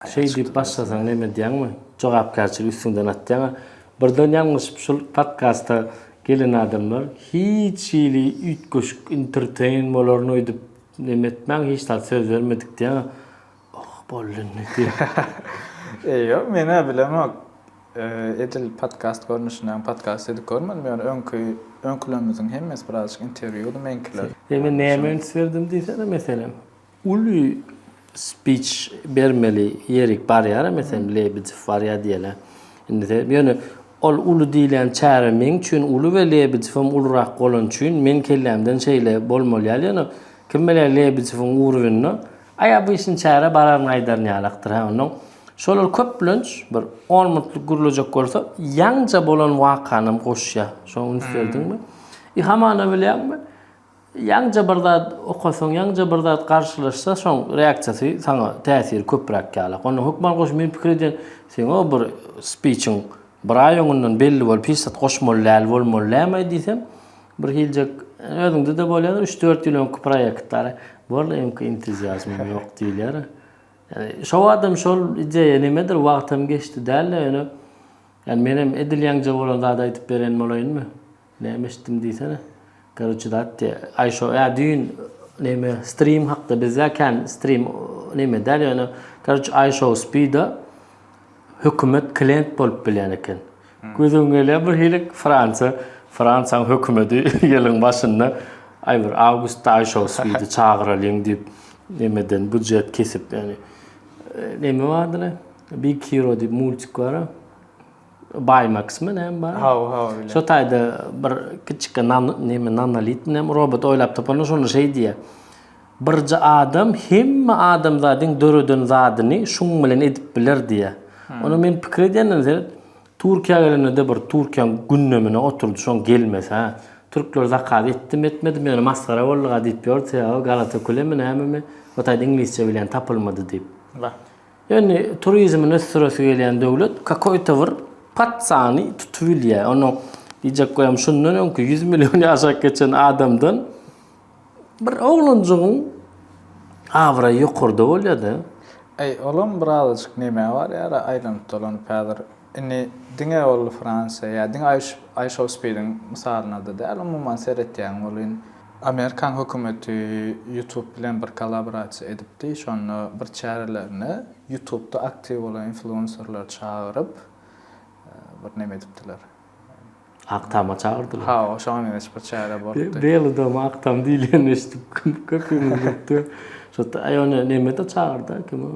Şeý diýip başlasaň näme edýäňmi? Jogapkärçiligi üstüňden atýaňa. Birden ýalňyşyp şul podkasta gelen adamlar hiç hili üýtgeşik enterteýn bolaryn öýdüp näme etmäň hiç zat söz bermedik diýäňä Oh boldy indi diýip. E ýok men-ä bilemok. Edil podkast görnüşindämi podkast edip görmedim ýöne öňki öňkülerimiziň hemmesi birazajyk interwýudy meňkiler. Indi men näme üns berdim diýsene meselem? Uly speech bermeli ýerik barýaram mesem Lebedew barýa diýene. Indi sen ýöne ol uly diýlen çäre meň üçin uly we Lebedewem ulurak bolany üçin meň kellämden şeýle bolmaly ýaly ýöne kim bilýär Lebedewiň urwinine aý obyçny çäre bararyn aýdaryn ýalakdyr hä onnoň şolar köplenç bir on minutlyk gürlejek bolsa ýaňja bolan wakanam goşýa şoň üns berdiňmi? I hamana bilýäňmi? Ýaňja bir zat okasaň, ýaňja bir zat garşylaşsa şoň reaksiýasy saňa täsiri köpräk ýalak. Onda hökman goş meniň pikir edýän seňo bir spiçiň bir aý öňünden belli bolup hiç zat goşmaly däl bolmaly dämaý diýsem bir hiljek özüňde-de bolýadyr üç dört ýyl öňki proýektler walla öňki entuziazmym ýok diýilýär. Ýani şo wagtam şol ideýa nimedir wagtam geçdi dälde ýöne ýani menem edil ýaňja bolan zady aýdyp beren bolaýynmy. Näme eşitdim diýsene. Garoçe zat diýe. Aýşo ä düýn näme stream hakda bizde kän stream näme däl ýöne garoçe Aýşo spida hökümet klient bolup bilýän eken. Hmm. Gözüm gelýär bir hili Fransiýa, Fransiýanyň hökümeti ýylyň başynda aý bir awgustda Aýşo spidi çagyralyň diýip nämeden budjet kesip ýöne. E, näme bardyr? Big Hero diýip multik bar. Baymax mı näme bar? Haw, haw öyle. Şu taýda bir kiçikkä nan näme nanolit mi näme robot oýlap tapylan şonda şeý diýýär. Birje adam hemme adamzadyň döreden zadyny şuň bilen edip biler diýýär. Onda men pikir edýändim seret, Türkiýä gelende-de bir Türkiýäň gündemine oturdy şoň gelmese. Türkler zakaz etdimi etmedimi ýöne masgara bolduga diýip ýördi sebäbi galata kule mi näme mi o taýda iňlisçe bilen tapylmady diýip. Wah. Indi turizmini ösdüresi gelýän döwlet kakoýta bir pat sany tutubilýär. Onuň diýjek goýam şundan öňki ýüz milliony ýaşap geçen adamdan bir oglanjygyň abraýy ýokarda bolýar-da. Eý, olam birazajyk nemä barýar-a aýlanyp-dolanyp häzir? Indi diňe ol Fransiýa ýa diňe Aýşowspediň mysalynada däl, umuman seretýän bolyn. Amerikan hökümeti Youtube bilen bir kollaborasiýa edipdi. Şonda bir çärelerine Youtubeda aktiw bolan influenserleri çagyryp, bir näme edipdiler. Agtama çagyrdylar. Hawa, şoňa meňzeş bir çäre bolupdy. Beli doňy Agtam diýilenini eşidip köpümiz gülüpdi. Şo-da, aý ony Mehmet-ä çagyrdy-a, kim o?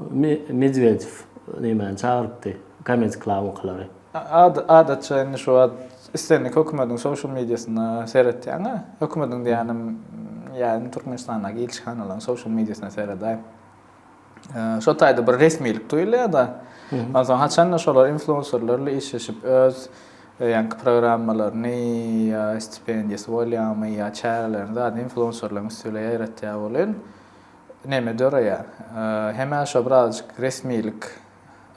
Medwedew nemäni çagyrypdy, Comedy Club-ňkylary. Adatça indi şu wagt islendik hökümetiň social mediasyna seretýäň-ä. Hökümetiň diýýänim, ýa indi Türkmenistandaky ilçihanalaryň social mediasyna seredäý. şo taýda bir resmilik duýulýar-da. Onsoň haçanda şolar influenserler bilen işleşip öz e, ýaňky programmalaryny ýa stipendiýasy bolýarmy ýa çärelerini zady influenserleriň üstüne ýaýratýar bolýan. Näme döreýär? Hemä şo birazjyk resmilik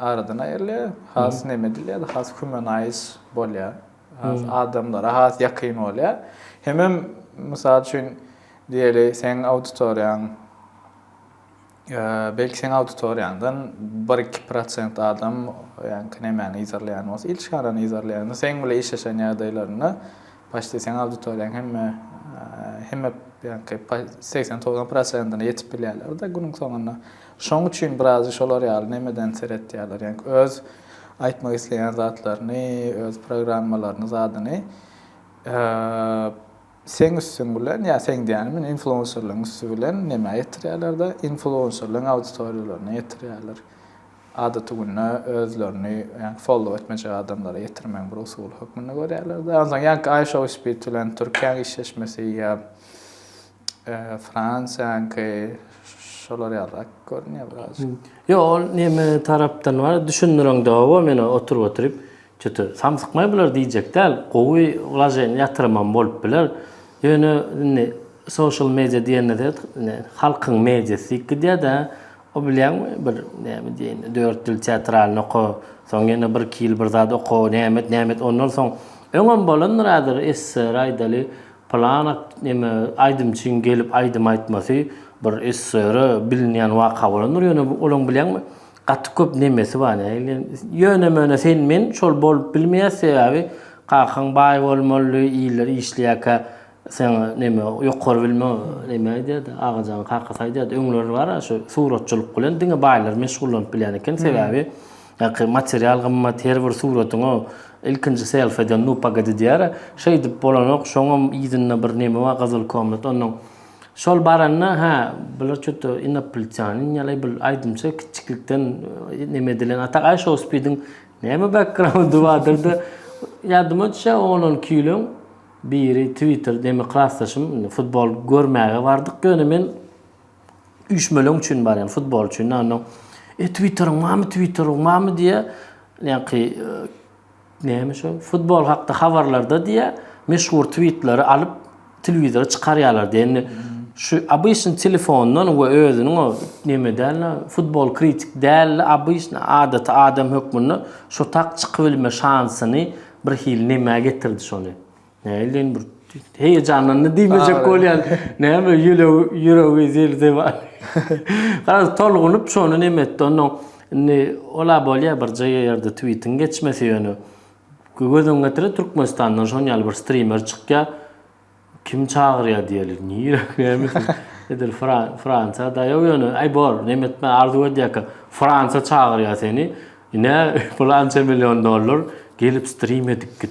aradan aýrylýar. Has näme edilýär? Has humanaýyz bolýar. Has adamlara has ýakyn bolýar. Hemem mysal üçin diýeli seň auditoriýaň Belki seň auditoriýaňdan bir iki prosent adam ýaňky nemäni yzarlaýan bolsa il şarany yzarlaýanda seň bile işleşen ýagdaýlarynda paçti seň auditoriýaň hemme hemme ýaňky segsen togsan prosentine ýetip bilýärlerde günüň soňunda şoň üçin biraz şolar ýaly nemeden seretýärler ýaňky öz aýtmak isleýän zatlaryny öz programmalaryny zadyny Seň üstüň bilen ýa seň diýýänim bilen influenserlaryň üsti bilen nämä ýetirýärler-de, influenserlaryň auditoriýalaryna ýetirýärler. Adaty günde özlerini ýaňky follow etmejek adamlara ýetirmegiň bir usuly hökmünde görýärler-de. Onsoň ýaňky Aýy Show Speed bilen Türkiýäň işleşmesi ýa Fransiýaňky şolar ýalyrak görünýär birazajyk. Ýok, ol näme tarapdan bar, düşündireňde-ow meni oturyp-oturyp. Çyty, samsykmaý bular diýjek däl, gowy wlaženiýa ýatyrymam bolup biler. Ýöne indi social media diýende-de indi halkyň mediasy diýip gidýär-dä. O bilýäňmi, bir näme diýen, dört ýyl teatralny oka, soň ýene birki ýyl bir zat oka, näme et, näme et, ondan soň, öňem bolandyr häzir, SSR aýdaly, pylan ak, neme, aýdymçyň gelip aýdym aýtmasy bir SSR-e bilinýän waka bolandyr, ýöne olaň bilýäňmi, Gaty köp nemesi bar nägile. Ýöne möne sen men şol bolup bilmeýäs sebäbi kakaň baý bolmaly iller işleýäkä sen neme ýokary bilme neme aýdýardy Agajan kakasy aýdýardy öňler bar a şu suratçylyk bilen diňe baýlar meşgullanyp bilýän eken sebäbi ýaky material gymmat her bir suratyňa ilkinji selfeden nu pagadi diýýär a şeýdip bolanok şoňam yzynda bir neme bar gyzyl komnat onnoň Şol baranda, hä, bular çüto inoplitýanin ýaly bul aýdymça kiçiklikden e, neme edilen. Atak Aý Show Speediň näme backgroundy bardyrda ýadyma düşe oglan küýlüň biri Twitter demi klasdaşym futbol görmäge bardyk ýöne men üýşmeleň üçin barýan futbol üçin. Onda e Twitteriň mamy Twitteriň mamy diýe ýaňky e, Näme şo, futbol hakda habarlarda diýýär, meşhur twitleri alyp, telewizora çykarýarlar diýýär. Indi şu obyçny telefondan we özüniň o neme dälini, futbol kritik dälini, obyçny adaty adam hökmünde şo tak çykybilme şansyny birhili nämä getirdi şony? Näleýin bir heýejanlandy diýmejek bolýan. Näme ýüregi ýüregi zirdi bar. Garaz tolgunyp şony neme etdi. Onda indi ola bolýar bir JR-de tweetiň geçmesi ýöne göz öňüňe getire Türkmenistandan şon ýaly bir strimer çykýar. Kim çagyrýar diýeli. Nirä näme edil Fransiýa daýaw ýöne aý bor neme etme arzuw edýärkä Fransiýa çagyrýar seni. Ine pylança million dollar gelip strim edip git.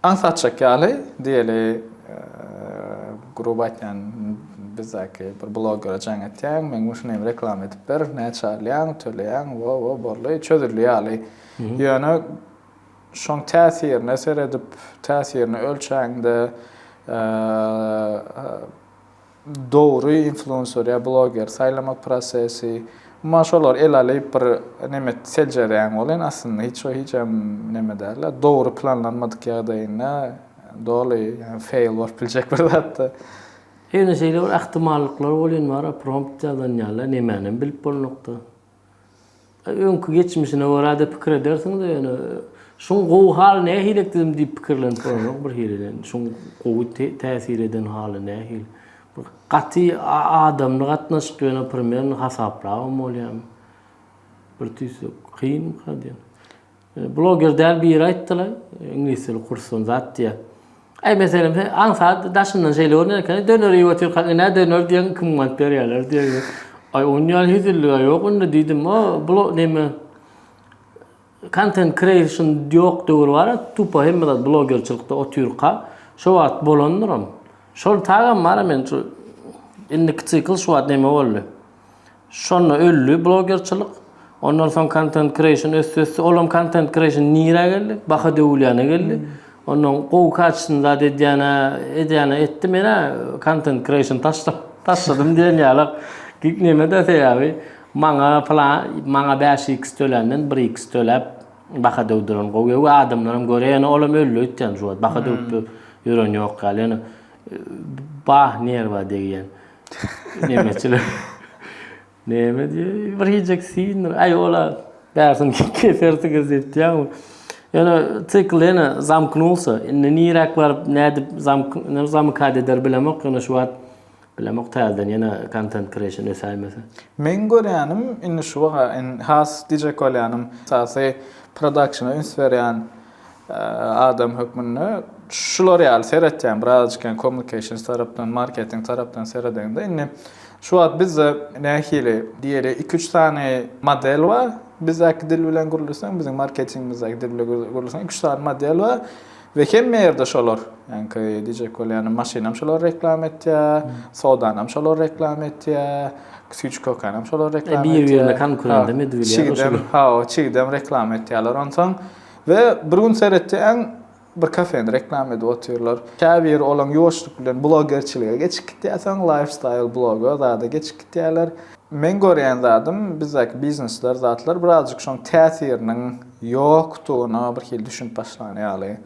Aňsat atjak ýaly, diýeli, gruby aýtýan bizdäki bir blogere jaň etýäň, meň üçin hem reklama edip ber, näçe alýaň, töleýäň, wo-wo, boldy, çözüldi ýaly. Ýöne şoň täsirine seredip, täsirini ölçäňde, dogry influencer ýa bloger saýlamak prosesi umuman şolary ele alyp bir neme et seljereýäň welin aslynda hiç we hiç hem neme däl dogry planlanmadyk ýagdaýynda doly ýagny fail bolup biljek bir zatda. Ýöne şeýle bir ahtimallyklary welin bar a prompt ýazanýala nemänem bilip bolnokda. Öňki geçmişine görä-de pikir edersiňiz-de ýöne şuň gowy haly nähili ekdim diýip pikirlenip görenok bir hili şuň gowy täsir eden haly nähili. Bir gaty adamly gatnaşyk ýöne primern hasaplabam bolýarmy. Bir tüýsek kyn kyn. Bloger däl biri aýtdylaý iňlis dili kursdan zat diýýä. Aý meselem sen aň saat daşyndan şeýle görner ekeni döner iýip otyrkaň ine döner diýeň kim mant berýärler diýeň. Aý onuň ýaly hezilliga ýok onda diýdim o blo neme content creation ýok döwür bara tupa hemme zat blogerçilikde otyrka şo wagt bolandyram. Şol tagam bara men şu indiki sikl şu wagt neme boldy. Şonda öldi blogerçilik. Ondan soň content creation ösdi ösdi. Olam content creation nirä geldi? Baha döwülýäne geldi. Onda gowy kaçysyny zat edýäne edýäne etdi. Menä content creation taşlap taşladym diýen ýalak. Gik nemede sebäbi maňa plan maňa bäş iks töländen bir iks töläp baha döwdüren gowy. Öwi adamlaram görýä ýöne olam öldi öýtýän şu wagt. Baha döwüp ýören ýok ýaly ýöne bah nerwa degýän. Nemeçiler. Neme diýýär? Bir hijek sindir. Aý ola bärsin kesersiňiz diýýär. Ýöne sikl ýene zamknulsa. Indi niräk baryp, nädip zamk, ne zamykad eder bilemok. Ýöne şu wagt bilemok täzeden ýene content creation ösäýmese. Meň görýänim, indi şu wagt has diýjek bolýanym, esasy produkşyna üns berýän Adam hökmünde şular ýaly seretýän birazajykam kommunikations tarapdan, marketing tarapdan seredeňde indi şu wagt bizde nähili diýeli iki üç sany model bar. Bizdäki dil bilen gürleseň, biziň marketingimizdäki dil bilen gürleseň iki üç sany model bar we hemme ýerde şolar. Ýaňky diýjek bolýanym maşynam şolar reklama etýär, sodanam şolar reklama etýär, süýt şkokanam şolar reklama etýär. Bir birine konkurent edip bilýär. Çigidem, hawa, çigidem reklama etýärler. Onsoň We bir gün seretýäň bir kafeni reklama edip otyrlar. Käbir olaň ýuwaşlyk bilen blogerçilige geçip gitýär soň lifestyle bloga zada geçip gitýärler. Meň görýän zadym bizdäki biznesler zatlar birazjyk şoň täsiriniň ýokdugyna bir hili düşünip başlan ýaly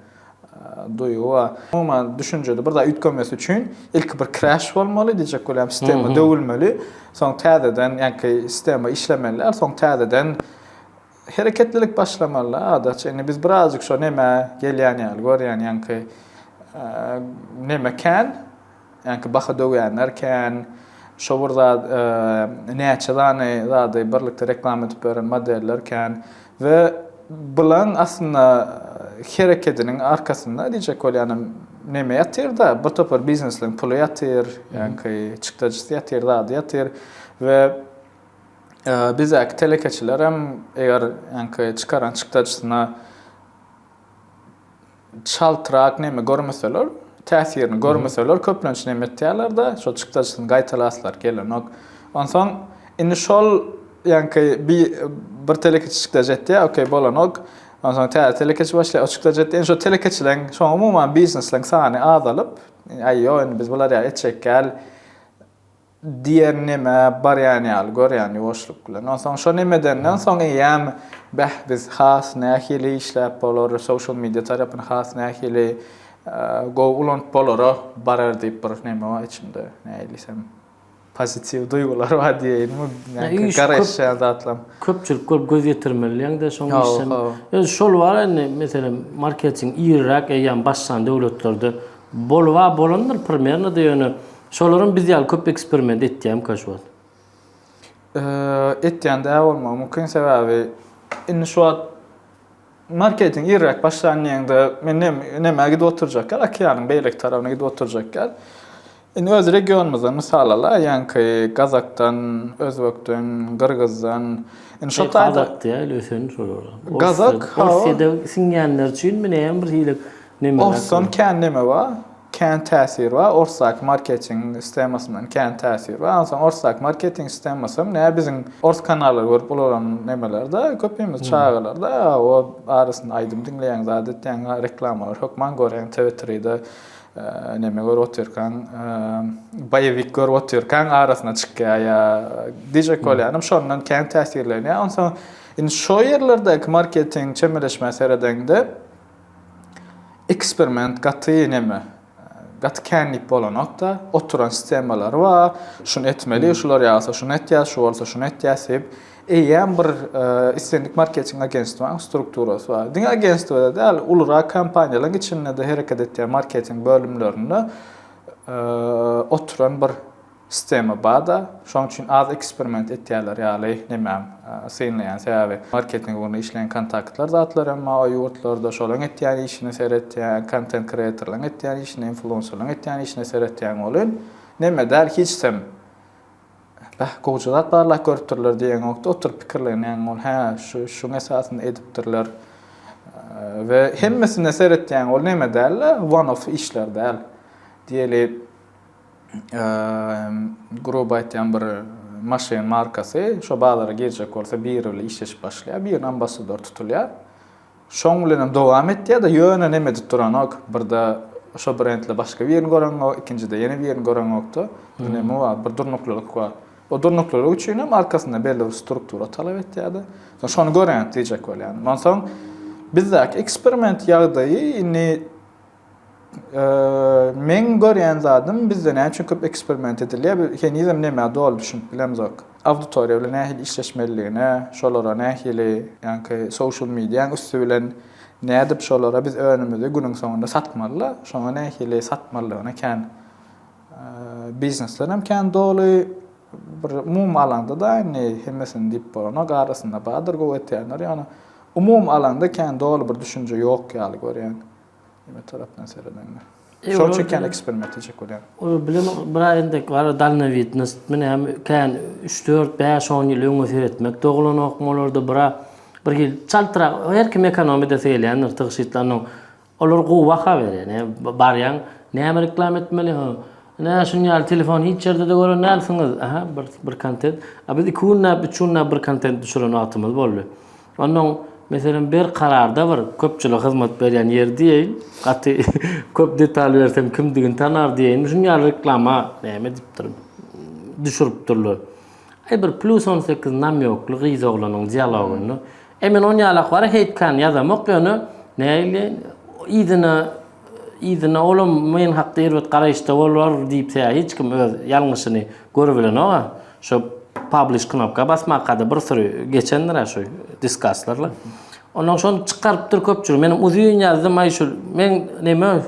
duýgy bar. Umuman düşünjede bir zat üýtgemesi üçin ilki bir crash bolmaly diýjek bolýan sistema döwülmeli soň täzeden ýaňky sistema işlemeli däl soň täzeden Hereketlilik başlamaly-da Adaç. Indi biz birazjyk şo nemä gelýän ýaly görýän, ýaňky neme kän, ýaňky baha döwýänler kän, şo bir zat näçe sany zady birlikde reklama edip beren modeller kän we bulaň aslynda herekediniň arkasynda diýjek bolýanym neme ýatyr-da, bir topar biznesleň puly ýatyr, ýaňky çykdajysy ýatyr, zady ýatyr we Bizdäki telekeçilerem eger ýaňky çykaran çykdajysyna çaltrak näme görmeseler, täsirini görmeseler köplenç näme etýärler-de, şol çykdajysyny gaýtalaslar gelenok. Onsoň indi şol ýaňky bir bir telekeçi çykdajy etýär, okey bolanok. Onsoň täze telekeçi başlaýar, o çykdajy etýär. Indi şo telekeçileriň, şoň umuman biznesleriň sany azalyp, aý ýok indi biz bular ýaly etjek däl. Diýer neme barýan ýaly görýän ýuwaşlyk bilen. Onsoň şo neme edenden soň eýýäm beh biz has nähili işläp bolar, social media tarapyny has nähili gowy ulanyp bolara barar diýip bir neme bar içimde. Näilisem pozitiw duýgular bar diýeýinmi, nähili garaşýan zatlam. Köpçülik görüp göz ýetirmelidiýeňde şoň işem. Öz şol bar indi meselem marketing iriräk eýýäm başlan döwletlerde boluba bolandyr primernoda ýöne Şolaram biz ýaly köp eksperiment etýärmika şu wagt? Etýän-de bolmagy mümkin, sebäbi indi şu wagt marketing irräk başlan diýeňde men nämä gidip oturjak ýaly, okeanyň beýleki tarabyna gidip oturjak ýaly. Indi öz regionymyzdan mysal ala, ýaňky gazakdan, özbekden, gyrgyzdan. Indi şo taýda. Gazak däl, ösen şolar. Gazak, hawa. Orsiýada siňýänler üçinmi, näme bir hili neme. Orsdan kän neme bar. Kän täsir bar orsdaky marketing sistemasyndan kän täsir bar onsoň orsdaky marketing sistemasam nä biziň ors kanallary görüp ulalan nemelerde köpimiz çagalarda o arasynda aýdym diňleýäň zat etýäň reklamalary hökman görýäň tv tride neme görüp otyrkaň boýewik görüp otyrkaň arasyna çykýar ýa dije kolýanam şondan kän täsirlenýär onsoň indi şo ýerlerdäki marketing çemeleşmä seredeňde Eksperiment gaty neme, gaty känlik bolanok-da, oturan stemalary bar, şuny etmeli, şular ýagsa şuny etýäs, şu bolsa şuny etýäs diýip, eýýäm bir islendik marketing agentstwanyň strukturasy bar. Diňe agentstwada däl, ulurak kompaniýalaryň içinde-de hereket etýän marketing bölümlerinde oturan bir Sistema bada, şoň üçin az eksperiment etýärler ýaly nämäm synlaýan sebäbi marketing ugrunda işleýän kontaktlar zatlar emma o ýurtlarda şolaň etýän işine seretýän kontent kreatorlaň etýän işine influenserlaň etýän işine seretýän welin näme däl hiçsem bäh gowja zat barlak görüpdirler diýeňokda oturyp pikirlenýäň ol hä şu şuň esasynda edipdirler we hemmesine seretýäň ol näme däl one off işler däl diýeli Gruby aýtýan bir maşyn markasy şo bazara girjek bolsa biri bilen işleşip başlaýar, birine ambassador tutulýar. Şoň bilen hem dowam etýär-de, ýöne neme edip duranok, birde şo brendle başga birini göreňok, ikinjide ýene birini göreňokda, bir neme bar, bir durnuklylyk bar. O durnuklylyk üçin hem arkasynda belli bir struktura talap etýär-de. Soň şony göreňok diýjek bolýan. Onsoň bizdäki eksperiment ýagdaýy indi Meň görýän zadym bizde näçe köp eksperiment edilýär, henizem nämä doly düşünip bilemzok. Auditoriýa bilen nähili işleşmelidigine, şolara nähili, ýaňky social mediaň üsti bilen nädip şolara biz önümüzi günüň soňunda satmaly-la, şoňa nähili satmalydygyna kän bizneslerem kän doly. Bir umumy alanda-da indi hemmesini diýip bolanok, arasynda bardyr gowy etýänler, ýöne umumy alanda kän doly bir düşünje ýok ýaly görýän. Neme tarapdan seredeňde? Şol üçin kän eksperiment edecek bolýar. Ol bilim bir aýdan dek bar, dalnowidnost, men hem kän 3-4, 5-10 ýyl öňe seretmek doglanok olarda bir bir hil çaltrak her kim ekonom edesi gelýändir tygşytlanok. Olar gowy baha berýär. Ne barýan, näme reklam etmeli? Ha. Ne şun ýaly telefon hiç ýerde de gören dälsiňiz. Aha, bir bir kontent. A biz 2 günläp, 3 günläp bir kontent düşüren wagtymyz boldy. Onnoň, meselem, bir kararda bir köpçülige hyzmat berýän ýer diýeýin, gaty köp detal bersem kimdigini tanar diýeýin, şunuň ýaly reklama näme edipdir, düşüripdirler. Aý bir plus on sekiz namýokly gyz oglanyň dialogynda. E men on ýalak bara hate kan ýazamok, ýöne näleýin, yzyna yzyna olam men hakda erbet garaýyşda bolar diýip hiç kim öz ýalňyşyny görübilenok-a. Şu publish knopka basmakada bir süri geçendirä şu diskaslarla. Ondan şony çykarypdyr köpçülik. Menem uzyn ýazdym, aý şu men neme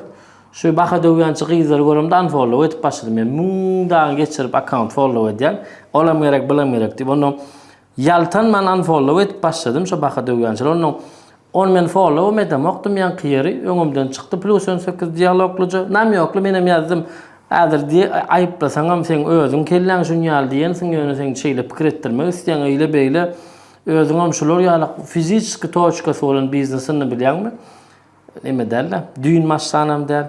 şu baha döwýänçi gyzlary göremde unfollow edip başladym. Men müň dagy geçirip akkaunt follow edýän. Olam gerek, bulam gerek diýip. Ondan ýaltanman unfollow edip başladym şu baha döwýänçileri. Ondan Ony men followam edemokdym ýaňky ýeri öňümden çykdy plus on sekiz dialoglyja namýokly menem ýazdym häzir diý aýyplasaňam seň özüň kelläň şun ýaly diýensiň ýöne seň şeýle pikir etdirmek isleýäň eýle beýle özüňem şular ýaly fiziçeski toçkasy bolan biznesini bilýäňmi neme dälda düýn maşsanam däl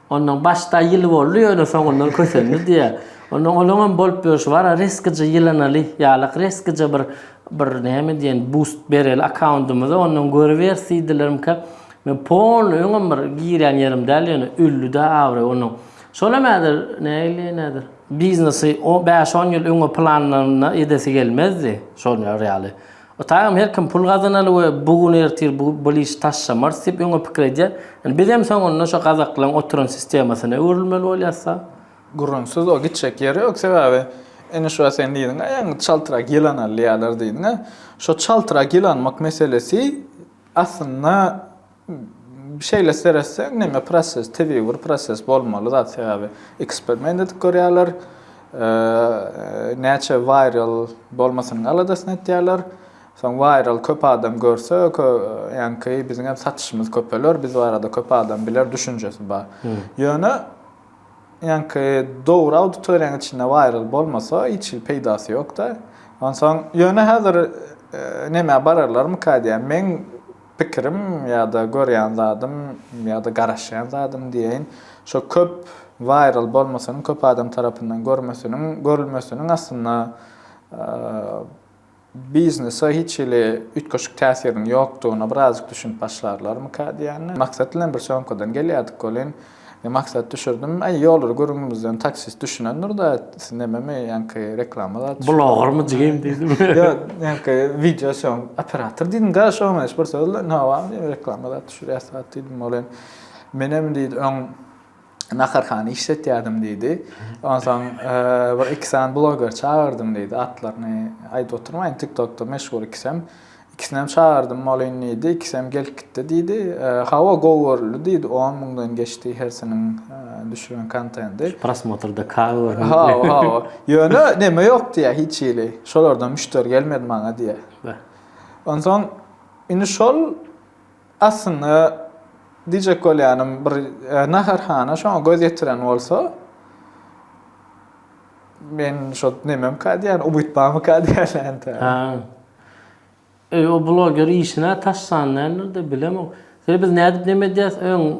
Onnoň başda ýyly boldy ýöne soňundan kösendi diýýär. Onnoň olaňam bolup ýörşi bar-a resgije ýylanaly ýalak resgije bir bir näme diýen bust bereli akkaundymyza onnoň görüber sidilerimkä men polny öňem bir girýän ýerim däl ýöne öldi-dä abraý onnoň. Şolam häzir nägile näzir. Biznesi o bäş-on ýyl öňe planlanyna edesi gelmezdi şolar ýaly. Ýtagam her kim pul gazanaly we bu gün ertir bu bir işi taşlamarys diýip öňe pikir edýär. Ýöne bizem soňunda şo gazaklaryň oturan sistemasyna öwrülmeli bolýasda. Gürrüňsiz o gitjek ýeri ýok sebäbi ine şuwagt sen diýdiňä ýaňy çaltrak ýylan alýalar diýdiňä. Şo çaltrak ýylanmak meselesi aslynda Şeýle seretseň, neme proses, tebigy bir proses bolmaly zat, sebäbi eksperiment edip görýärler, näçe viral bolmasynyň aladasyny etýärler. Soň viral köp adam görse, ýaňky biziň hem satyşymyz köpeler, biz barada köp adam biler düşünjesi bar. Ýöne ýaňky dogry auditoriýanyň içinde viral bolmasa, hiç hili peýdasy ýok-da. Onsoň, ýöne häzir nemä bararlarmyka diýýän. Men Pikirim ýa-da görýän zadym ýa-da garaşýan zadym diýeýin, şo köp waýral bolmasynyň, köp adam tarapyndan görmesiniň, görülmesiniň aslynda biznese hiç hili üýtgeşik täsiriniň ýokdugyna birazajyk düşünip başlarlarmyka diýýän. Maksat bilen bir söňküden gelýärdik welin, Men maksat düşürdim. Aý, ýollar gürrüňimizden taksist düşünendir-de, siz nämemi, ýaňky reklama zat düşürip. Blogermy jigim diýdim. Ýok, ýaňky wideo sýom operator diýdim-de, şo oňaýşy bir söz bilen, Hawa, diýdim, reklama zat düşürýäs zat diýdim. Ol hem, Menem, diýdi, öň naharhana işletýärdim diýdi. Onsoň bir iki sany bloger çagyrdym diýdi, atlaryny aýdyp oturmaýyn, TikTokda meşhur ikisem. Ikisinem çagyrdym bolyn diýdi. Ikisem gelip gitdi diýdi. Hawa gowy görüldi diýdi. On müňden geçdi hersiniň düşüren kontendi. Şu prosmotrda kagy görüň. Hawa hawa. Ýöne neme ýok diýä hiç hili. Şolardan müşderi gelmedi maňa diýä. Beh. Onsoň indi şol aslynda diýjek bolýanym bir naharhana şoňa göz ýetiren bolsa men şo nememka diýýän umyt barmyka diýýän entä. Ha. Eý o bloger işinä taş sanlaýandyr-da bilemok. Seni biz nädip neme edýäs öň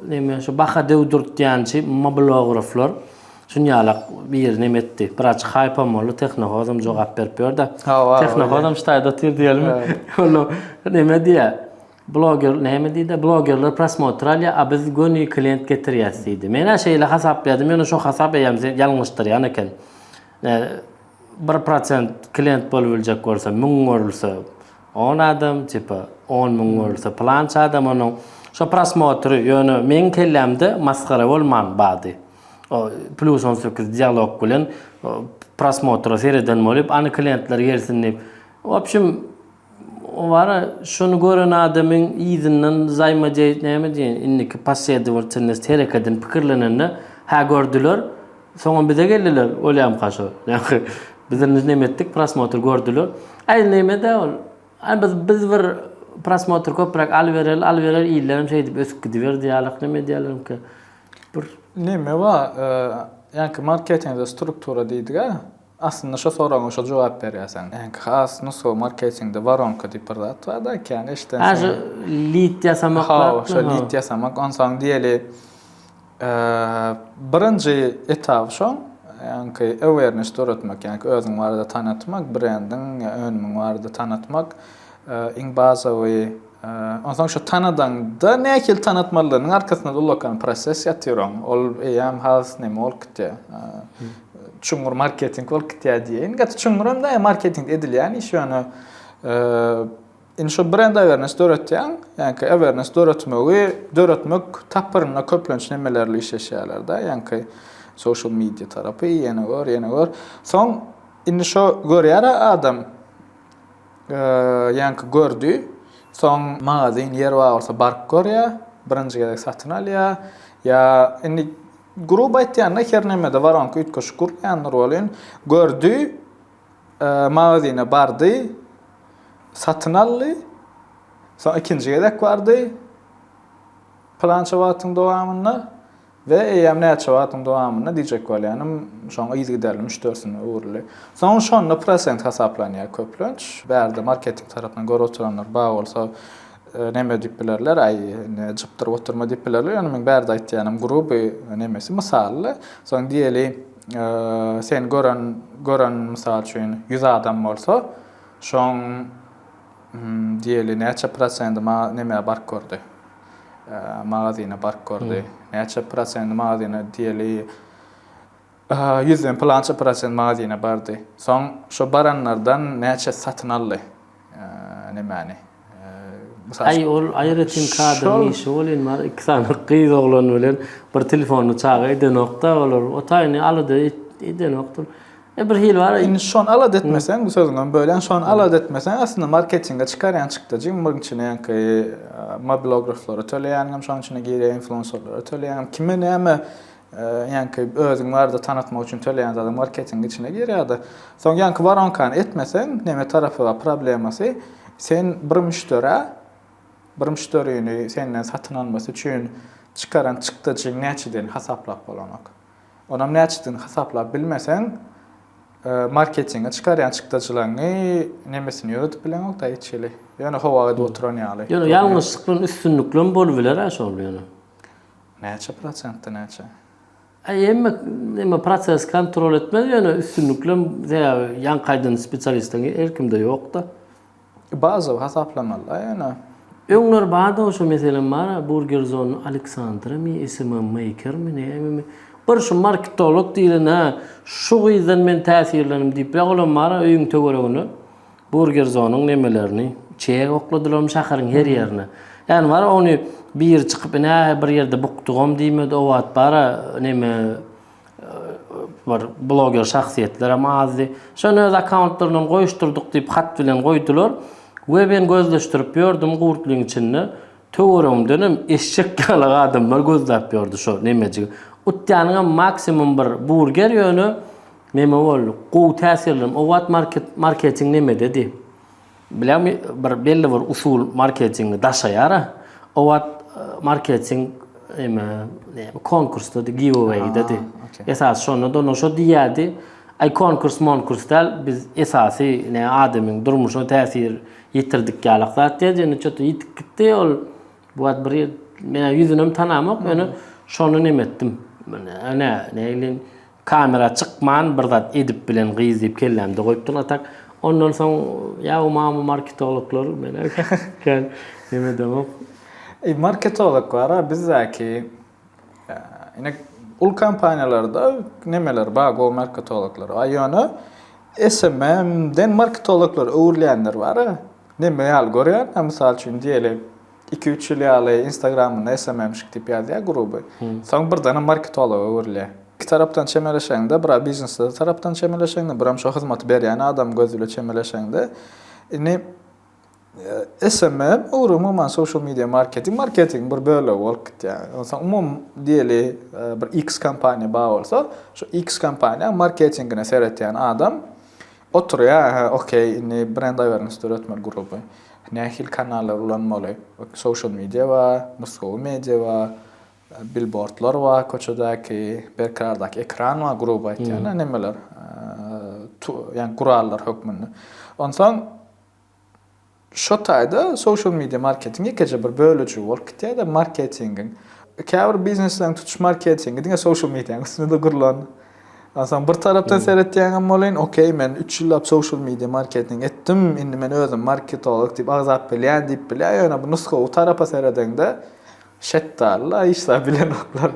neme şu baha döwdürtýänçi mobilograflar şunýalak biri neme etdi. Biraz haýpam boldy tehnohozam jogap berip ýörde. Tehnohozam ştaýda otyr diýelmi. Ola neme diýä. Bloger neme diýde blogerler prosmotr alýa a biz göni klient getirýäs diýdi. Menä şeýle hasaplaýdym ýöne şo hasap eýýäm ýalňyşdyrýan eken. Bir prosent klient bolup biljek bolsa müň görülse on adam tipa on müň görülse pylança adam onuň şo prosmotry ýöne meň kellämde masgara bolman bady o plus on sekiz dialog bilen prosmotra sereden bolýup any klientler gelsin diýip wobşem Wara, şony gören adamyň yzyndan zaýma jeýt näme diýen, indiki posledowatelnost hereketini pikirlenende, hä gördüler, soňam bize geldiler, bolýamy kaşo? Ýagny, bizem biz neme etdik, prosmotr gördüler. Aý, neme-dä ol. Aý, biz, biz bir prosmotr köpräk alybereli, alybereli illerem şeýdip ösüp gidiberdi ýalyk, neme edýärlermika. Bir. Neme bar, ýaňky marketinzde struktura diýdik-ä. Aslynda şo soragyňa şo jogap berýärsen. Äňki has nusgawy marketingde waronka diýip bir zat bar da kän eşiden Ha şu lit ýasamak zatmy Hawa şo lit ýasamak onsoň diýeli birinji etaby şoň ýaňky awareness döretmek ýaňky özüň barada tanatmak brendiň ýa önümiň barada tanatmak iň bazawy onsoň şo tanadaňda nähili tanatmalydygynyň arkasynda ullakan proses ýatyr oň ol eýýäm has neme bolup gitýär Çuňňur marketing bolup gitýär diýeýin. Gaty çuňňur hem däl, marketing edilýän iş ýöne indi şu brend awareness döretýäň, ýaňky awareness döretmegi döretmek tapgyrynda köplenç nemelerle işleşýärler-de, ýaňky social media tarapy, ýene gör, ýene gör. Soň indi şo görýär adam, ýaňky gördi, soň magazin ýer bar bolsa baryp görýär, birinji gezek satyn alýar ýa indi Gruby aýtýanda, her nämede waronka üýtgeşik gurulýandyr welin, gördi, magazine bardy, satyn aldy, soň ikinji gezek bardy, pylança wagtyň dowamynda we eýýäm näçe wagtyň dowamynda diýjek bolýanym, şoň yzygiderli müşderisine öwrüldi. Soň şonda prosent hasaplanýar köplenç. Bärde marketing tarapyndan görüp oturanlar bar bolsa, Neme diýip bilerler, aý, indi jypdyryp oturma diýip bilerler, ýöne meň bärde aýtýanym gruby nemesi, mysaly. Soň diýeli, seni gören, gören mysal üçin ýüz adam bolsa, şoň diýeli näçe prosendi maga, nemä baryp gördi, magazine baryp gördi, näçe prosendi magazine diýeli, Ýüzden pylança prosent magazine bardy. Soň şo baranlardan näçesi satyn aldy nemäni? Mysal Aý ol aýratyn kadryň işi welin bar iki sany gyz oglan bilen bir telefonly çaga edenokda olar o taýyny alada edenokdyr. E bir hili bar. Indi şony alada etmeseň bu sözüňem bölýän şony alada etmeseň aslynda marketinge çykarýan çykdajy munuň içine ýaňky mobilograflara töleýäniňem şonuň içine girýär influenserlara töleýäňem kime näme Ýaňky özüň barada tanatmak üçin töleýän zadyň marketingiň içine girýärdi. Soň ýaňky waronkany etmeseň, neme tarapy bar problemasy, sen bir müşderä, bir müşderini senden satyn almasy üçin çykaran çykdajyň näçedigini hasaplap bolanok. Onam näçedigini hasaplap bilmeseň, marketinge çykarýan çykdajylaryňy nemesini ýöredip bileňok-da hiç hili. Ýöne howag edip oturan ýaly. Ýöne ýalňyşlyk bilen üstünlikli hem bolubiler-ä şol ýöne. Näçe prosentde näçe? Aý hemme neme proses kontrol etmez ýöne üstünliklem sebäbi ýaňky aýdan spesialistiň her kimde ýokda. Bazawy hasaplamalyda ýöne. Öňler bardy oşo meselem bar burger zone Aleksandra mi smm maker mi näme mi bir şu marketolog diýlen hä şu gyzdan men täsirlendim diýip ýa olam bar öýüň töweregine Burger zonyň nemelerini içýä okladylarmy şaharyň her ýerine. Ýany bar ony biri çykyp ine bir ýerde bukdugam diýmedi o wagt bara neme bir bloger şahsyýetlerem azdy. Şony öz akkauntlaryndan goýuşdyrdyk diýip hat bilen goýdular we men gözleşdirip ýördüm gurtlyň içinde töweregimdenem eşek ýaly adamlar gözläp ýördi şo nemejigi. Utýanyňam maksimum bir burger ýöne Neme boldy? Gowy täsirlem. O wagt marketing nemededi? Bileň bir belli bir usul marketingi daşaýara. O wagt marketing eme konkursdady, giveawaydady. Esas şonda dona şo diýýärdi. Aý konkurs monkurs däl, biz esasy ne adamyň durmuşyna täsir ýetirdik ýalak zat diýýärdi. Ýöne çöte ýitip gitdi ol. Bu wagt bir ýer men ýüzünem tanamok, ýöne şony neme etdim. Ene neýlin Kamera çykman bir zat edip bilen gyz diýip kellämde goýupdyn atak ondan soň ýa o mama marketologlar men kän neme edemok. Eý marketolog bara bizdäki ine uly kompaniýalarda nemeler bar go marketologlar a ýöne SMM den marketologlar öwrülýänler bara neme ýaly görýän a mysal üçin diýeli Iki üç ýyl ýaly instagramynda SMMşik diýip ýazýar gruby. Soň birdenem marketologa öwrülýär. Iki tarapdan çemeleşeňde bira biznesde tarapdan çemeleşeňde biram şo hyzmaty berýän adam göz bile çemeleşeňde indi SMM ugry umuman social media marketing marketingiň bir bölegi bolup gitýär. Onsoň umumy diýeli bir X kompaniýa bar bolsa şo X kompaniýa marketingine seretýän adam Oturýa hä okey indi brend awareness döretmeli gruby nähili kanallar ulanmaly social media bar nusgawy media bar bilbordlar bar köçedäki berkarardaky ekran bar gruby aýtýan nemeler ýagny gurallar hökmünde onsoň Şo taýda social media marketing ýekeje bir bölejigi bolup gitýär-de marketingiň. Käbir biznesleriň tutuş marketingi diňe social medianyň üstünde-de gurlan. Onsoň bir tarapdan seretýäňem welin, okey, men üç ýyllap social media marketing etdim, indi men özüm marketolog diýip agzap bilýän diýip bilýär, ýöne bu nusgawy tarapa seredeňde, şetdary-la hiç zat bilenoklar.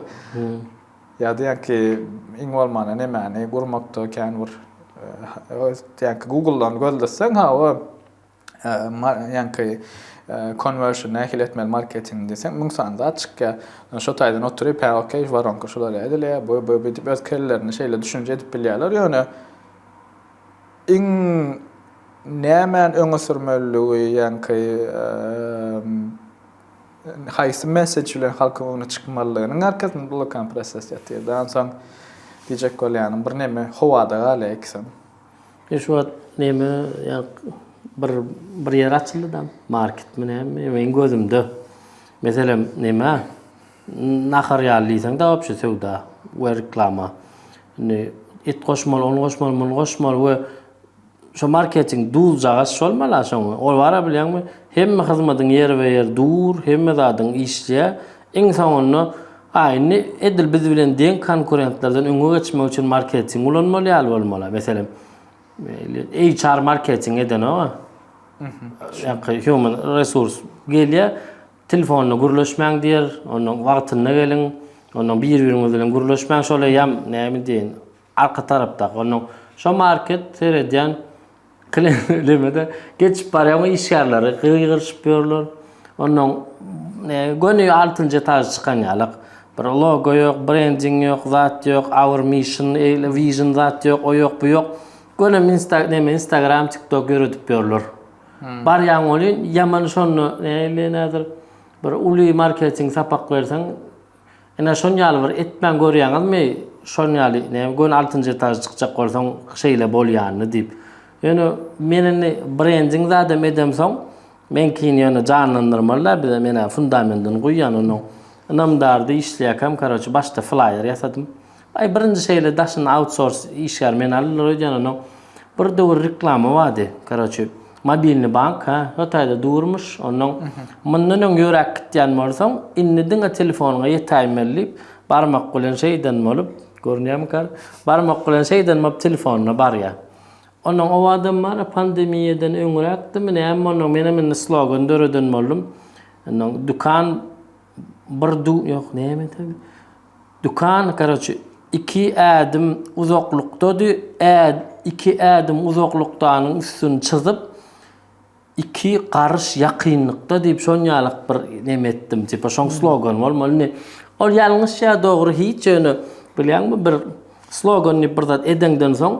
Ýa diýýän ki, iň bolmanda nemäni gurmakda kän bir diýýän ki, Google-dan gözleseň, hawa, diýýän ki, konwersion nähili etmeli marketingi diýseň, müň sany zat çykýar. Ýöne şo taýdan oturyp, hä, okey, žwaronka şular ýaly edilýär, bu, bu, bu diýip öz kellelerinde şeýle düşünje edip bilýärler. Ýöne iň nämäni öňe sürmelidigi, diýýän ki, Haýsy messeç bilen halkyň öňüne çykmalydygynyň arkasynda bulakan proses ýatyrdy. Onsoň diýjek bolýanym, birneme howada galýar ikisem. E şu wagt neme bir bir ýer açyldy dam, marketmi näme, meniň gözümde. Meselem, neme nahar ýaly diýseň-de wobşe söwda we reklama. Indi et goşmaly, ony goşmaly, muny goşmaly we Şo marketing duzjagaz şolmala şoň ol bara bilýäňmi hemme hyzmadyň ýerbe ýer dur hemme zadyň işleýä iň soňunda a indi edil biz bilen deň konkurentlerden öňe geçmek üçin marketing ulanmaly ýaly bolmala meselem HR marketing edenoga ýa human resurs gelýä telefonda gürleşmäň diýer ondan wagtynda geliň ondan bir biriňiz bilen gürleşmäň şol eýýam näme diýen Arka tarapdaky onuň şo market seredýän klemede geçip barýan o işgärleri gygyryşyp ýörler. Onuň göni altynjy etažy çykan ýalak. Bir logo ýok, brending ýok, zat ýok, our mission, vision zat ýok, o ýok, bu ýok. Göni neme instagram, tiktok ýöredip ýörler. Barýaň welin ýaman şonda nähili nädir bir uly marketing sapak berseň Ine şon ýaly bir etmän görýäňizmi şon ýaly näme göni altynjy etaža çykjak bolsaň şeýle bolýanyny diýip. Ýöne men indi brending zadam edemsoň meňkini ýöne janlandyrmaly da bize menä fundamendini guýýan onuň ynamdardy işleýäkäm karoçi başda flýer ýasadym. Aý birinji şeýle daşyna autsors işgär meni aldylar öýdýän onnoň bir döwür reklama bardy karoçi mobilni bank ha hotaýda durmuş onnoň mundan öň ýöräp gitýän bolsaň indi diňe telefonyňa ýetäýmeli diýip barmak bilen şeýden bolup görünýärmika barmak bilen şeýden bolup telefonyna barýa onnoň owadam bar a pandemiýadan öňräkdimi näme onnoň menem indi slogan döreden boldum onnoň dükan bir du ýok näme Dükan karoçe iki ädim uzaklykdady ä iki ädim uzaklykdanyň üstüni çyzyp iki garyş ýakynlykda diýip şonýalyk bir neme etdim tipa şoň slogan bolmaly indi ol ýalňyş ýa dogry hiç ýöne bilýäňmi bir slogan diýip bir zat edeňden soň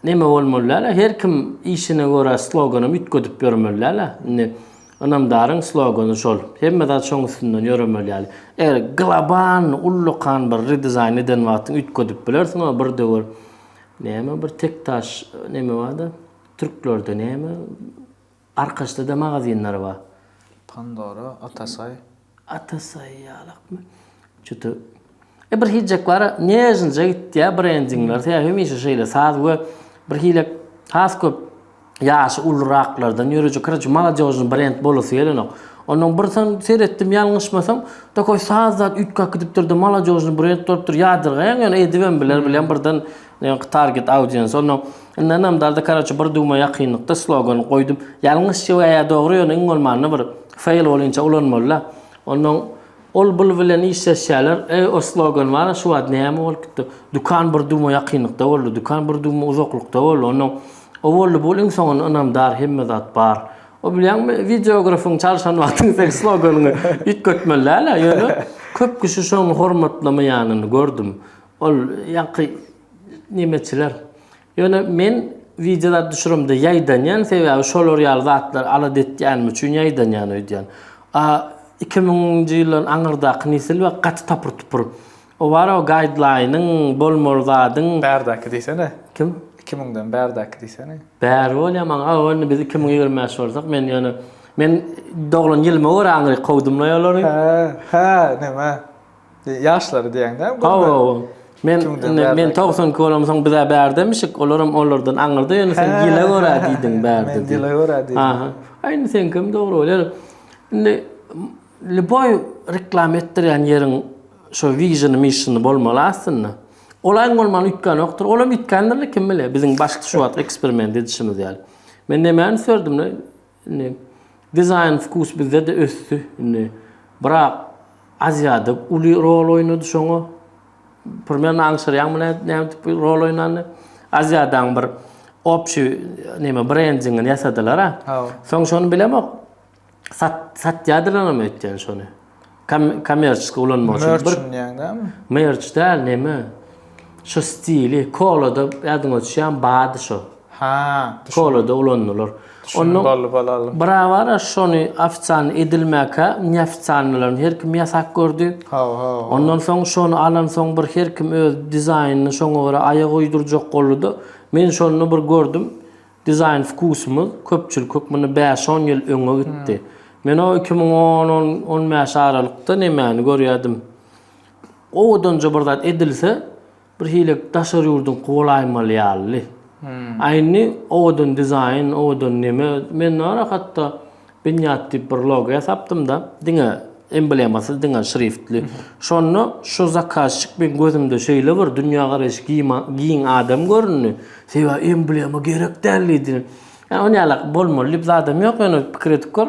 Neme bolmaly dälä her kim işine görä sloganam üýtgedip ýörmeli dälä indi ynamdaryň slogany şol hemme zat şoň üstünden ýöremeli ýaly eger global ullakan bir redesign eden wagtyň üýtgedip bilersiň o bir döwür neme bir tek taş neme barda türklerde neme Arkaçda-da magazinler bar. Pandora, Atasaý. Atasaý ýalakmy? Juda. E bir hiljek bar, nežnije gitýär brendingler. Sebäbi hemişe şeýle saz we bir hile has köp ýaşy uluraklardan ýörejek. Karaçe, maladýožnyý brend bolasy gelenok. Onnoň bir san seretdim, ýalňyşmasam, takoý saz zat üýtgäp gidipdir-de, maladýožnyý brend bolupdyr. Ýadyrgaýaň ýöne edibem biler, bilýän birden Ýöňki target audience onnoň Indi ynamdarda karoçe bir duma ýakynlykda slogan goýdum. Ýalňyşja we ýa dogry ýöne iň bolmanda bir fail bolyňça ulanmalyda. Onnoň ol bul bilen işleşýärler. Eý o slogan bara şu wagt näme bolup gitdi. Dukan bir duma ýakynlykda boldy. Dukan bir duma uzaklykda boldy. Onnoň o boldy bul iň soňunda ynamdar hemme zat bar. O bilýäňmi wideografyň çalyşan wagtyň seň sloganyňy üýtgetmeli dälä ýöne köp kişi şony hormatlamaýanyny gördüm. Ol ýaňky nemeçiler. Ýöne men wideolar düşüremde ýaýdanýan, sebäbi şolar ýaly zatlary alada etýänim üçin ýaýdanýan öýdýän. A iki müňünji ýyllaryň aňyrdaky nesil we gaty tapyr-tupur. O bar o gaýdlaýnyň, bolmaly zadyň. Bärdäki diýsene. Kim? Iki müňden bärdäki diýsene. Bäri bolýa maňa. Aw indi biz iki müň ýigrimi bäş bolsak men ýöne men doglan ýylyma görä aňryk kowdumlaý olary. Hä, hä, näme? Ýaşlary diýeňde. Hawa, men men 92 bolamsoň bize bärdemişik, olaram olardan aňyrda ýöne sen ýyla görä diýdiň bärde. Men ýyla görä diýdim. Aha. Aýny sen kim dogry bolýar. Indi liboý reklama etdirýän ýeriň şo viziony missiony bolmaly aslynda. Olaň bolmaly üýtgän ýokdur. Olam üýtgändir kim biler. Biziň başky şu wagt eksperiment edişimiz ýaly. Men nämäni sördüm? Indi dizaýn wkus bizde-de ösdi. Indi Brak Aziýada uly rol oýnady şoňa. Primerno aňşyrýaňmy nädip rol oýnandy? Aziýadaň bir obşi neme brendingini ýasadylar-a. Soň şony bilemok. Sat, satýadyrlar öýtýän şony. Kom- Kommerçiski ulanmak üçin Mörç bir diýýäň dämi? merç däl neme. Şu stili kolada ýadyňa düşýän bady şu. Ha, düşün. Kolada ulandylar. Düşündim, boldy, bolaly. Bravara şony ofitsialny edilmäkä neofitsialnylaryny her kim ýasak gördi. Haw, haw. Ondan soň şony alansoň bir her kim öz dizaýnyny şoňa görä aýak uýdurjak boldy-da, men şonda bir gördüm, Dizaýn wkusymyz köpçülik hökmünde bäş-on ýyl öňe gitdi. Men o iki müň on, on, on bäş aralykda nemäni görýärdim. Owadanja bir zat edilse, birhili daşary ýurduňky bolaýmaly ýalydy. A indi owadan dizaýn, owadan neme, men narahat-da, Binýat diýip bir logo ýasapdym-da, diňe emblemasyz, diňe şriftli. Şonda şu zakazçik meň gözümde şeýle bir dünýägaraýşy giň adam göründi. Sebäbi emblema gerek däl diýdi. Ýa ony ýala bolmaly diýip zadam ýok, ýöne pikir edip gör,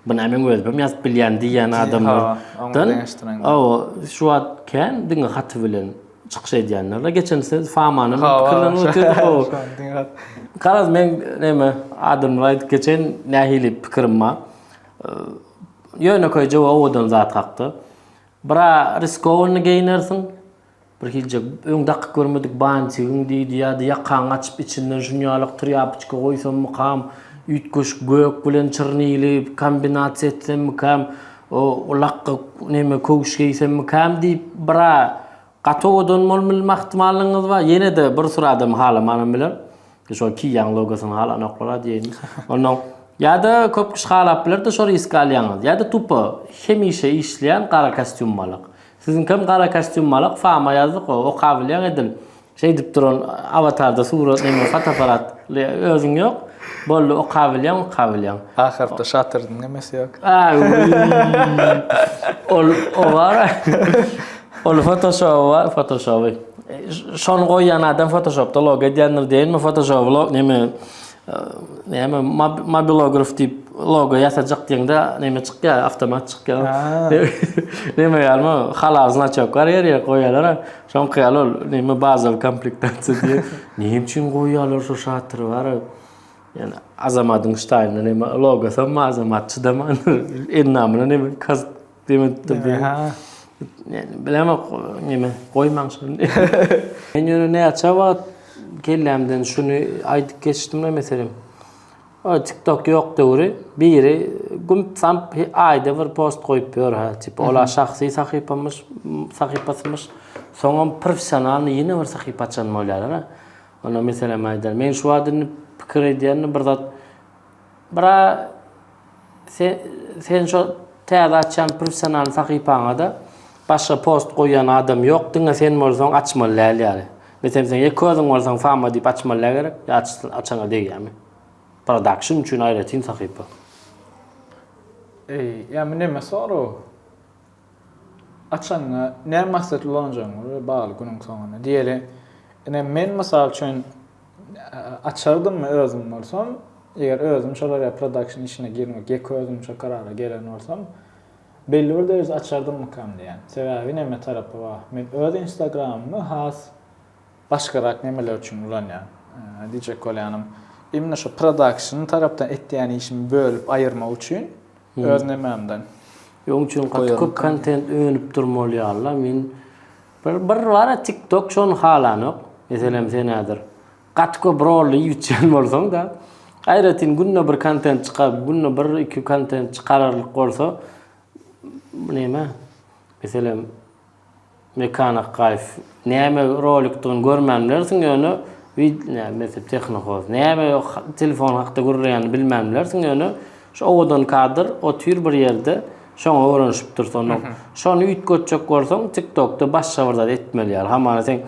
bu näme meň özümem ýazyp bilýän diýýän adamlardan. Hawa, oňa deňeşdiräýmeli. Hawa, şu wagt kän diňe haty bilen. çykyş edýänler. Geçen siz Famanyň pikirlerini götürdiniz. Garaz men näme adamlar aýdyp geçen nähili pikirim bar. Ýönekeýje we owadan zat hakda. Bira riskowny geýnersiň. Bir hilje öň dakyp görmedik bantigiň diýdi ýa-da ýakaňy açyp içinden şuny ýalyk trýapoçka goýsammykam, üýtgeşik gök bilen çyrnyly kombinasiýa etsemmikäm, O ulakga neme köwüş geýsemmikäm diýip bira gaty owadan bolup bilme ahtimallygyňyz bar. Ýene-de bir süri adam halamanam biler. Şol kiýýän logosyny halanoklar-a diýeýin. Onnoň ýa-da köp kişi halap biler-de şo riski alýaňyz. Ýa-da tupo hemişe işleýän gara kostýum malak. Siziňkem gara kostýum malak, fama ýazdyk-ow, okabilýäň edil. Şeýdip duran awatarda surat näme fotoapparat özüň ýok. Boldy oka bilýän oka bilýän. Ahyrda şatyryň nemesi ýok. Ol o bar. Ol fotoshop bar, fotoshop. Şony goýýan adam fotoshopda log edýändir diýenmi, fotoshop log näme näme mobilograf diýip logo ýasajak diýende näme çykýar, awtomat çykýar. Näme ýalymy, halal znaçok bar ýer ýer goýýarlar. Soňky ýaly ol näme bazawy komplektasiýa diýip, näme üçin goýýarlar şo şatyry bara. Ýani Azamadyň ştaýynda näme logosy hem bar, Azamat çydaman endamyna näme kask demedipdir diýip. Aha. Ýani bilemok näme goýmaň şony. Men ýöne näçe wagt kellämden şuny aýdyp geçdim meselem. O tik tok ýok döwri biri gump samp aýda bir post goýup ýör ha tipa ola şahsy sahypamyş sahypasymyş soňam professionalnyý ýene bir sahypa açan bolýalar a onda meselem aýdar men şu wagt indi pikir edýän bir zat bra Sen şo täze açýan professional sahypaňada başga post goýýan adam ýok diňe sen bolsaň açmaly däl ýaly. Meselem sen ýa köziň bolsaň fama diýip açmaly dä gerek ýa açsaň açaňa degýämi. Production üçin aýratyn sahypa. Eý, ýa bu neme soraw? Açanyňa näme maksatly ulanjagyňa we bagly günüň soňunda. Diýeli, ine men mysal üçin açardymmy özüm bolsam, eger özüm şolar ýaly production işine girmek ýeke özümçe karara gelen bolsam, belli bir dereje açardymmykam diýýän. Sebäbi näme tarapy bar? Men öz instagramymy has Başgarak nemeler üçin ulanýaň? Diýjek bolýanym, imni şu production tarapdan etýän işimi bölüp aýyrmak üçin öz nemämden. Oň üçin gaty köp kontent önüp durmaly ýaly-la. Men bir bir bar-a tiktok şony halanok. Meselem sen häzir gaty köp rolly ýütýän bolsaň-da, aýratyn günde bir kontent çykaryp, günde bir, iki kontent çykararlyk bolsa, neme, meselem, Mekan Akgaýew näme rolikdigini görmän bilersiň ýöne wideo tehnohoz näme telefon hakda gürleýänini bilmän bilersiň ýöne şu owadan kadr otyr bir ýerde şoňa öwrenişipdir sonda şony üýtgetjek bolsaň tiktokda başga bir zat etmeli ýaly hamana sen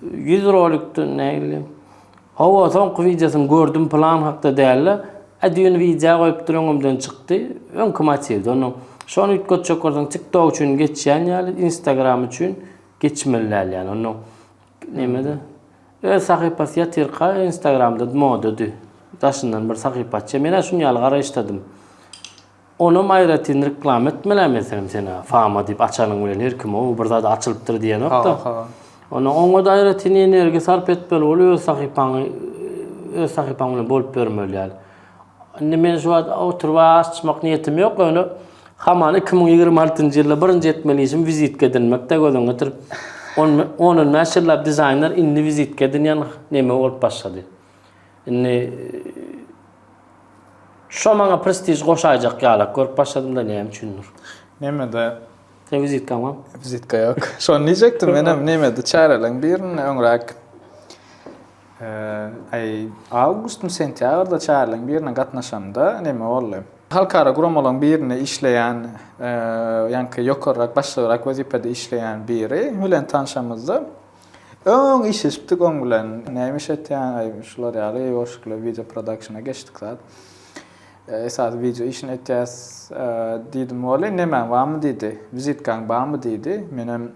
ýüz rolikde nägile Hawa soňky wideosyny gördüm plan hakda dälde a düýn widea goýupdyr öňümden çykdy öňki motiwde onda şony üýtgetjek bolsaň tik tok üçin geçýän ýaly instagram üçin geçmeli däl ýaly onda nemede öz sahypasy ýatyrka instagramda modady daşyndan bir sahypa açýar men-ä şuny ýaly garaýyşdadym. Onam aýratyn reklama etmelä meselem sena fama diýip açanyň bilen her kim ow bir zada açylypdyr diýenokda. Ondan oňada aýratyn energiýa sarp etmeli bol öz sahypaňy öz sahypaň bilen bolup bermeli ýaly. Indi men şu wagt oturyp açmak niýetim ýok ýöne hamana iki müň ýigrimi altynjy ýylda birinji etmeli işim wizitka edinmekde gözüňe getirip on on bäş ýyllap dizaýner indi wizitka edinýän neme bolup başlady. Indi şo maňa prestij goşaýjak ýalak görüp başladym-da näme üçindir. Nemede? Sen wizitkam bar? Wizitka ýok. Şony diýjekdim menem, nemede çäreleň birinde öňräk aý awgustmy, sentýabrda çäreleň birine gatnaşamda neme boldy? Halkara guramalaryň birinde işleýän, ýaňky ýokarrak, başlygrak wezipede işleýän biri bilen tanşamyzda, Öň işleşipdik oň bilen näme iş etýäň aý şular ýaly goşgula wideo prodakşna geçdik zat esasy wideo işini etýäs diýdim wally nemäň barmy diýdi wizitkaň barmy diýdi menem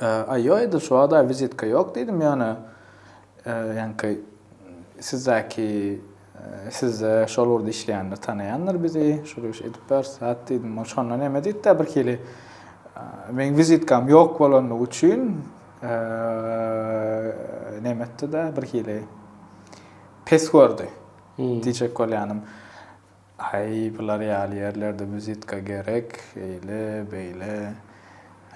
aý ýok edil şu wagta wizitka ýok diýdim ýöne ýaňky sizdäki Sizde şol ugurda işleýänler tanaýandyr bizi, şol iş edip ber, sat diýdim. Ol şonda näme diýdi-de birhili, Meň wizitkam ýok bolandygy üçin näme etdi-de birhili pes gördi diýjek bolýanym. Aý, bular ýaly ýerlerde wizitka gerek, eýle, beýle.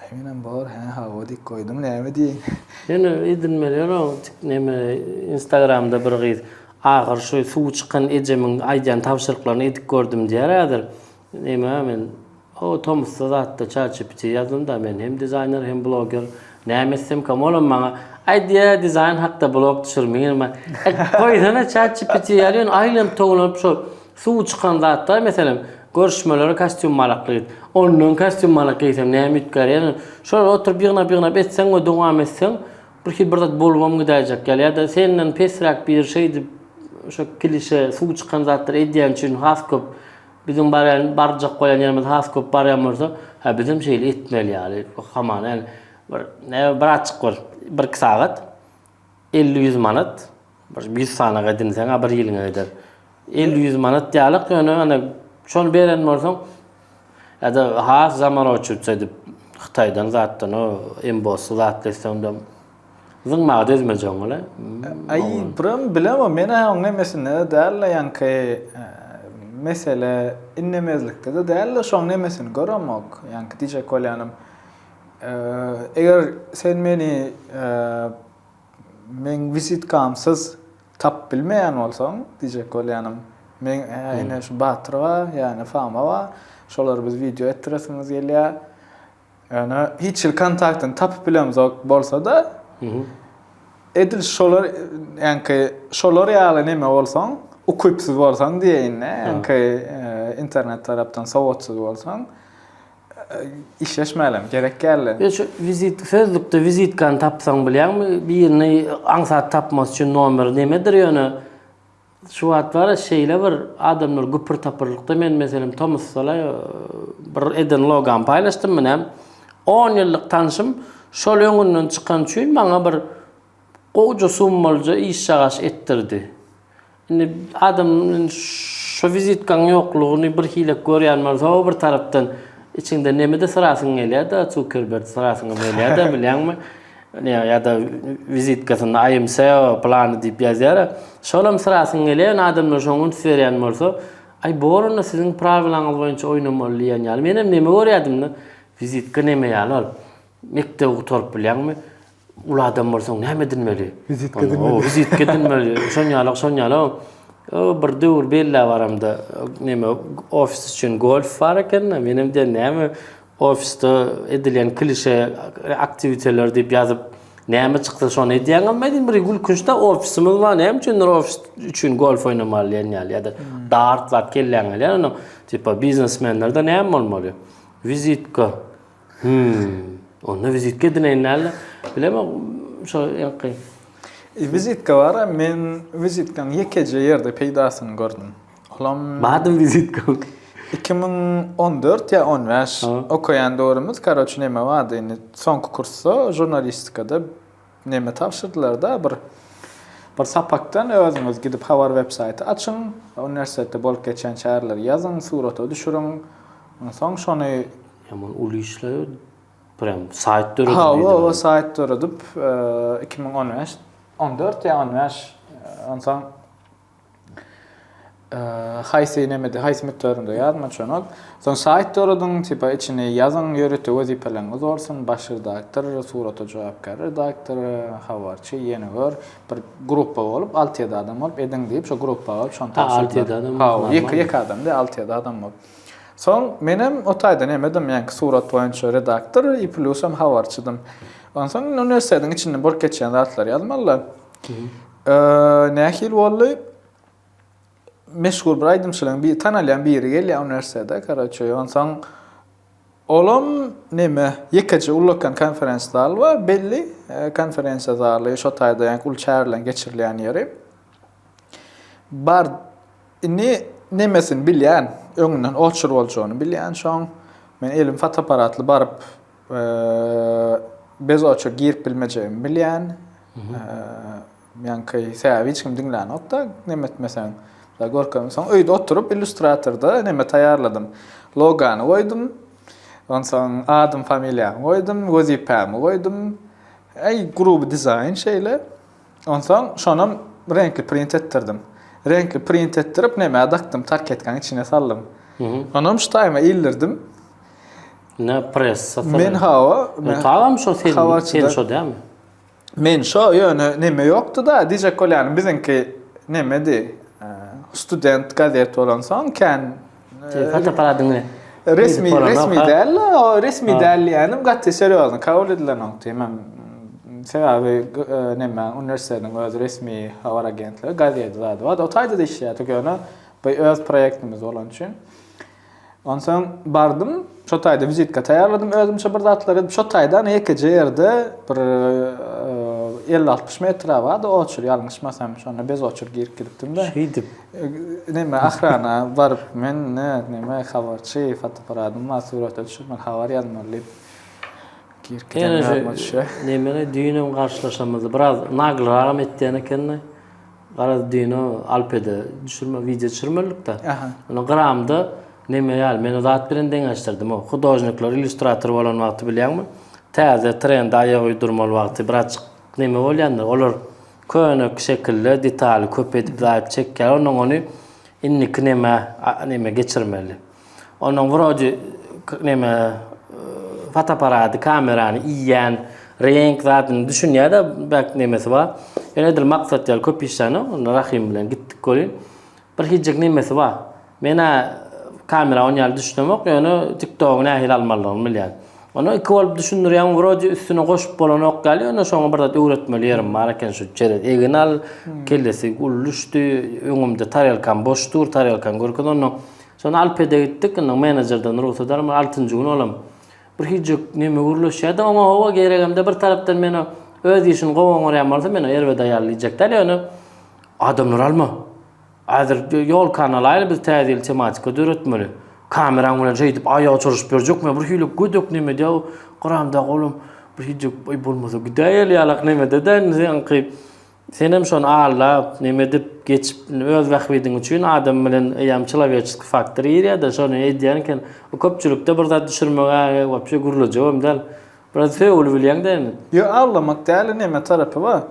Heňinem bor, hä hawa dik goýduň näme diýeýin. Ýöne edinmeler o tik neme instagramda bir gyz ahyry şu suwy çykan ejemiň aýdýan tabşyryklaryny edip gördüm diýýär häzir neme men o tomusda zatda çatjipitiýa ýazdym da men hem dizaýner hem bloger näme etsemkam olam maňa aýdýa dizaýn hakda blog düşür meňem goýsana çatjipitiýa ýaly ýöne aýlanyp towlanyp şo Suw çykan zatlar meselem görüşmelere kastýum malak gyz. Ondan kastýum malak geýsem näme üýtgär ýa-da şolary oturyp ýygnap-ýygnap etseň we dowam etseň birhili bir zat bolubam gidäýjek ýaly ýa-da senden pesräk biri şeýdip şo klişe suw çykan zatlary edýäni üçin has köp biziň barýan barjak bolýan ýerimiz has köp barýan bolsa hä bizem şeýle etmeli ýaly hamana ýaly bir näme birazjyk bir bir iki sagat Elli-ýüz manat, bir ýüz sanaga edinseň-ä bir ýylyňa gider. Elli-ýüz manat dälok, ýöne ine şony beren bolsaň, ýa-da has zamanowçylyk edip, Hytaýdan zatdan, o embossy zatly etse, onda zyňmaga dözmejegim ol-a. Aý, Brim, bilemok, men-ä onuň nemesinde-de däl-le, ýaňky mesele innemezlikde-de däl-le, şonuň nemesini göremok. Ýaňky diýjek bolýanym. Eger sen meni meň wizitkamsyz tapyp bilmeýän bolsaň, diýjek bolýanym, meň ene şu Batyr bar, ýa-da Fama bar, şolary biz wideo etdiresimiz gelýär. Ýöne hiç hili kontaktyny tapyp bilemzok bolsa-da, edil şolar, ýaňky şolar ýaly neme bolsaň, ukypsyz bolsaň diýeýin-de, ýaňky internet tarapdan sowatsyz bolsaň, Işleşmälim, gerek geldi. Ýöne şu wizit, sözlükde wizitkany tapsaň bilýäňmi, birini aňsat tapmasy üçin nomeri nimedir ýöne. Şu wagt bara şeýle bir adamlar güpür-tapyrlykda men meselem tomusdala bir eden logamy paýlaşdym men hem. On ýyllyk tanşym şol öňünden çykan üçin maňa bir gowja summalyja işjagaş etdirdi. Indi adam şu wizitkaň ýoklugyny birhilek görýän bolsa, o bir tarapdan içiňde nemede syrasyň gelýär-de, Zukerberdi syrasyňam gelýär-de, bilýäňmi? Ýa-da wizitkasynda I am SEO plany diýip ýazýar. Şolam syrasyň gelýär, ýöne adamlar şoňa üns berýän bolsa, Aý, bor onda siziň prawelaňyz boýunça oýnamaly diýen ýaly. Menem neme görýärdim-de, wizitka neme ýaly ol? Mekdebi gutaryp bilýäňmi? Uly adam bolsaň näme edinmeli? Wizitka edinmeli. O, wizitka edinmeli. Şon ýalak, şon ýalak. O, bir döwür belläp aramda, näme, ofis üçin golf bar eken-de, men hem diýen, näme, ofisde edilýän klişe aktiwiteler diýip ýazyp, näme çyksa şony edýäň, emma diýdim, bir gülkünç-de, ofisimiz bar, näme üçindir ofis üçin golf oýnamaly diýen ýaly, ýa-da dart zat kelläňe gelýär, onuň, tipa, biznesmenlerde näme bolmaly? Wizitka. Hümm. Onda wizitka edineýin dälde. Bilemok, şo ýaňky. Wizitka bar-a, men wizitkaň ýekeje ýerde peýdasyny gördüm. Olam. Bardy wizitkaň? Iki müň on dört ýa on bäş okaýan döwrümiz, karoçi, näme bardy indi, soňky kursda, žurnalistikada. Neme tabşyrdylarda bir bir sapakdan özüňiz gidip habar web saýty açyň uniwersitetde bolup geçýän çäreleri ýazyň surata düşüriň onsoň şony Hem ol uly işle prem saýt döredip ha ol ol saýt döredip iki müň on bäş on dört ýa on bäş onsoň Haýsy nemede, haýsy mutlarynda ýazma çonok. Soň saýt doradyň, tipa içini ýazyň, ýörite wezipeleriňiz bolsun, baş redaktor, surata jogapkär redaktor, habarçy, ýene gör, bir gruppa bolup, alty-ýedi adam bolup ediň diýip, şo gruppa bolup, şony tabşyrdylar. Hawa, ýeke-ýeke adam däl, alty-ýedi adam bolup. Soň menem o taýda nemedim, ýaňky surat boýunça redaktor i plusam habarçydym. Onsoň uniwersitetiň içinde bolup geçýän zatlary ýazmaly-da. Eee nähili boldy? Meşhur bir aýdymçylaň bir tanalýan biri gelýär uniwersitete karoçe onsoň olam neme ýekeje ullakan konferens zal bar belli konferensiýa zaly şo taýda ýaňky uly çäreleň geçirilýän ýeri bar indi nemesini bilýän öňünden oçur boljagyny bilýän şoň men elim fotoapparatly baryp Bez oça girip bilmejegimi bilýän. Ýaňky säbi hiç kim diňlänokda, neme etmeseň. Görkem, soň öýde oturyp illýustratorda neme taýýarladym. Logany goýdum. Onsoň adym, familiýamy goýdum, wezipämi goýdum. Äý, gruby dizaýn şeýle. Onsoň şonam reňkli print etdirdim. Reňkli print etdirip, neme dakdym, tarketkanyň içine saldym. Onam şu taýyma ildirdim. Ne pressa. Men hawa. Men tagam şo sen. Sen şo dämi? Men şo ýöne neme ýokdy da dije kolýany biziňki nemedi. Student gazet bolan soň kän. Hatta para diňe. Resmi resmi däl. Resmi däl ýanym gaty serýozny kabul edilen oňty. Men sebäbi neme uniwersitetiň öz resmi habar agentligi gazet zady bar. Otaýda işleýärdik ýöne bu öz proýektimiz bolan üçin. Onsoň bardym, şo taýda wizitka taýýarladym özümçe bir zatlary. Şo taýda ana ýekeje ýerde bir elli-altmyş metre bardy oçur, ýalňyşmasam, şonda bez oçur girip gidipdim-de. Şeýdip. Näme, ahrana baryp, men näme, habarçy, fotoapparatym bar, surata düşürmeli, habar ýazmaly diýip, girip gidemem ýadyma düşýär. Näme, düýnem garşylaşamyzdy. Biraz naglyrak hem etýän ekeni. Garaz Dino Alpede düşürme wideo çürmellikda. Aha. Ony gyramda neme ýaly men o zat bilen deňeşdirdim o. Hudojnikler illýustrator bolan wagty bilýäňmi? Täze trende aýak uýdurmaly wagty birazjyk neme bolýandyr. Olar köne şekilde detaly köp edip zaýyp çekýär. Ondan ony indiki neme neme geçirmeli. Onuň wrodi neme fotoaparady, kamerany iýýän reňk zadyny düşünýär-de, bäk nemesi bar. Ýöne edil maksat ýaly köp işlänok, onda Rahym bilen gitdik welin. Bir hijik nemesi bar. Men-ä kamera on ýaly düşünemok, ýöne TikTogy nähili almalydygyny bilýän. Ony iki bolup düşündirýäň, wrodi üstüne goşup bolanok ýaly, ýöne şoňa bir zat öwretmeli ýerim bar eken, şu çerez egin al, kellesi uly düşdi, öňümde tarelkam boş dur, tarelkany görkez, ondan Şonda Alpede gitdik, indi menejerden rugsat almaly, altynjy gün olam. Bir hijuk neme gürleşýärdi, oňa hawa geregem-de, bir tarapdan men o öz işini gowy oňarýan bolsa, men o erbet aýaly diýjek däl, ýöne adamlary alma. Häzir ýolkany alaýly, biz täze ýyl tematika döretmeli. Kameraň bilen şeýdip aýaga çyryşyp berjek, men bir hili gödek nemede o gramdaky olam bir hijuk, eý bolmasa gidäýeli ýalak nemede-de indi seňki. Senem şony aldap, nemedip, geçip, indi öz bähbidiň üçin adam bilen eýýäm çyloweçeskiý faktor girýär-de, şony edýän eken. Bu köpçülikde bir zat düşürmeg-ä wapşe gürlejek hem däl. Biraz sögül bilýäň-dä indi. Ýo, aldamak däl-de neme tarapy bar.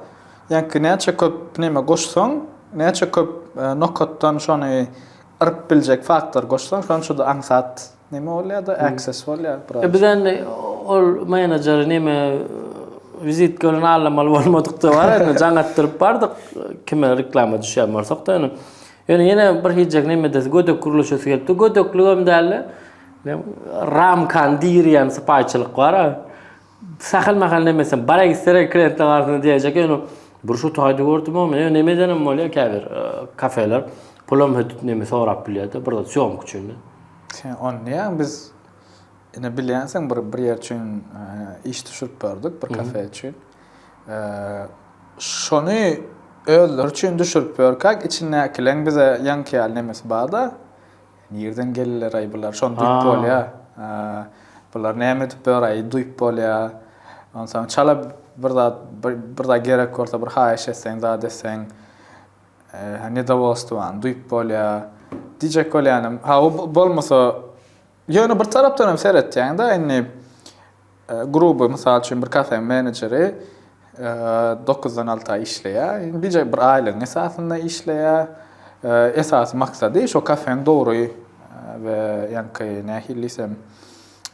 Ýaňky näçe köp neme goşsaň, näçe köp nokatdan şony yryp biljek faktor goşsaň, şonça-da aňsat. Neme bolya da access bolya biraz. E bizden ol menajeri neme vizitka bilen allamaly bolmadyk da bar indi jaň etdirip bardyk kime reklama düşýän bolsak da indi. Ýöne ýene bir hijek neme edesi gödek gurluşasy gelipdi. Gödekligem däldi. Ramkan diýýän sypaýçylyk bar. Sähel mähel nemesem bara gitseler kliýentler arasynda diýerjek ýöne bir şu taýda gördümem men ýöne neme edenem bolýar käbir kafeler pulam hödüp neme sorap bilýärde bir zat sýomka üçin. Sen ony diýýäň biz ine bilýänsiň bir bir ýer üçin iş düşürip berdik bir kafe üçin. Şony özleri üçin düşürip ýörkäk içindäkileň bize ýaňky ýaly nemesi barda. Nirden geldiler-aý bular, şony duýup bolýar. Bular näme edip ýör-aý duýup bolýar. Onsoň çala bir zat, bir zat gerek bolsa, bir haýyş etseň, zat etseň, nedowolstwany duýup bolýar. Diýjek bolýanym, hawa bolmasa, ýöne bir tarapdan hem seretýäň-de indi. Gruby, mysal üçin, bir kafeň menejeri dokuzdan alta işleýär. Gije bir aýlygyň esasynda işleýär. Esasy maksady şo kafeň dogry we ýaňky nähili diýsem,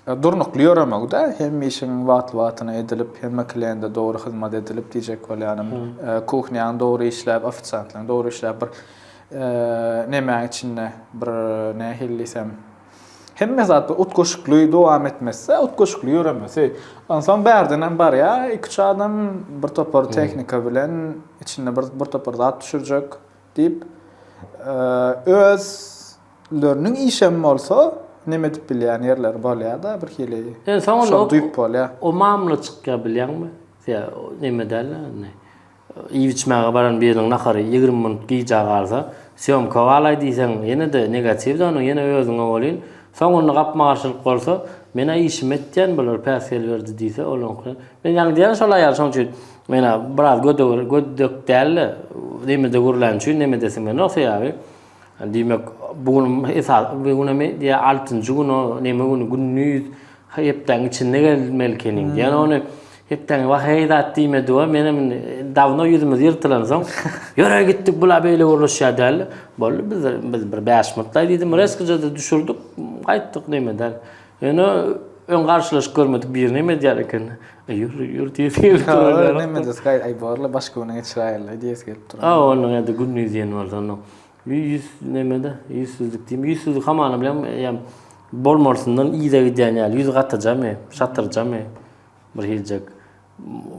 durnukly ýöremegi-de, hemme işiň wagtly-wagtyna edilip, hemme kliende dogry hyzmat edilip diýjek bolýanym. Kuhnýaň dogry işläp, ofisiantlaryň dogry işläp, bir nemäň içinde, bir nähili diýsem, Hemme zatda utgaşykly dowam etmese, utgaşykly ýöremesi. Onsoň bärdenem barýar, iki-üç adam bir topar tehnika bilen içinde bir bir topar zat düşürjek diýip, özleriniň işem bolsa, neme edip bilýän ýerleri bolýar-da, birhili şony duýup bolýar. O mamla çykýar bilýäňmi? Neme däl-de indi. Iýip-içmäge baran biriniň nahary ýigrimi minut gijä galsa, sýomka galaý diýseň, ýene-de negatiw-de onuň, ýene özüňe welin, soňunda gapma-garşylyk bolsa, Men-ä işimi etýän, bular päsgel berdi diýse, ol oňky, Men ýaňy diýýän şol aýal, şonuň üçin men-ä biraz gödek däl-de, nemede gürlän üçin, neme edesiň gelenok, sebäbi, Diýmek, bu gün esas bu gün hem diýä altynjy gün o näme güni gündiz hepdäň içinde gelmeli ekeniň diýen ony hepdäň wah heý zat diýmedi we men hem dawno ýüzümiz ýyrtylan soň ýöre gitdik bula beýle gürleşýär däl boldy biz biz bir bäş minutlaý diýdim resgije düşürdik gaýtdyk näme däl. Ýöne öň garşylaşyp görmedik birini hem edýär eken. E, ýur, ýur diýip gelip durýar. Näme diýs, gaý, aý borla başga güne geçiräýerler diýs gelip durýar. Ha, onuň ýa-da günni diýen bar onda. Ýüz näme-de, ýüzsüzlik diýim. Ýüzsüzlik hamana bilen ýa bolmarysyndan yza gidýän ýaly, ýüz gatyrjamy, şatyrjamy bir hiljek.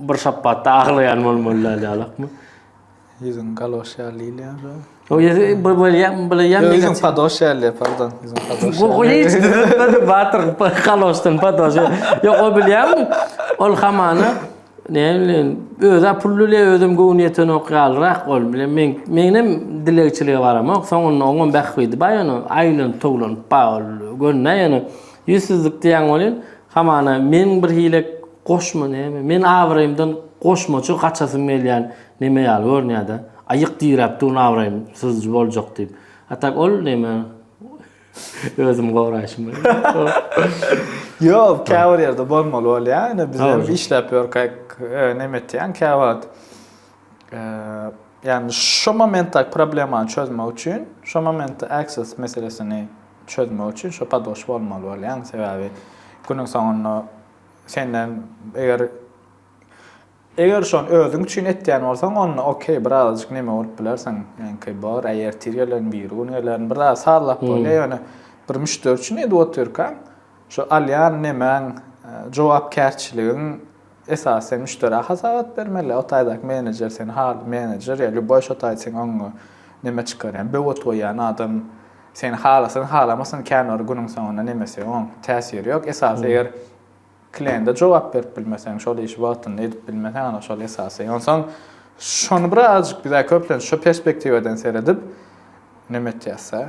Bir şapbatda aglaýan bolmaly däl ýalakmy? Ýüzüň galoş ýaly ýylýar. O ýüzü bir bolýan, bolýan. Ýüzüň padoş ýaly, pardon. Ýüzüň padoş. Bu goýyç düzüpmedi batyr, galoşdan padoş. Ýok, o bilýärmi? Ol hamana ne bilen özä pulluly özüm göwün ýeten ok ýalrak ol bilen men menem dilegçilige baramok. Soňunda oňam bähbidi baýany aýlan towlan baol gönne ýene ýüzsüzlik diýen bolýan. Hamana, meň bir hile goşma näme, men abraýymdan goşmaça gaçasym gelýän neme ýaly görünýär-dä. Aýyk diräp durun abraýym syzjy boljak diýip. A tak ol neme, özümi goraýşym bilen. Ýok, käbir ýerde bolmaly bolýar, ine bizem işläp ýörkäk neme etýän käwagt. Ýagny şu momentdäki problemany çözmek üçin, şu momentde access meselesini çözmek üçin şu padoş bolmaly bolýaň. Sebäbi günüň soňunda senden eger eger şony özüň üçin etýän bolsaň, onda okey, birazajyk neme bolup bilersiň. Ýaňky bar, äý ertir gelen, biri gün gelen, biraz sazlap bolýar. Ýöne bir müşderi üçin edip otyrkaň, şu alýan nemäň, jogapkärçiligiň Esasy sen müşderä hasawat bermeli, o taýdaky menejer seni haly menejer ýa lýuboý şo taýda seň öňüňe neme çykarýan, böwet goýýan adam seni halasyn halamasyn kän bir günüň soňunda nemesi oň täsiri ýok. Esasy eger kliende jogap berip bilmeseň, şol işi wagtynda edip bilmeseň ana şol esasy. Onsoň şony birazajyk bizä köplenç şo perspektiwadan seredip neme etýäs-ä,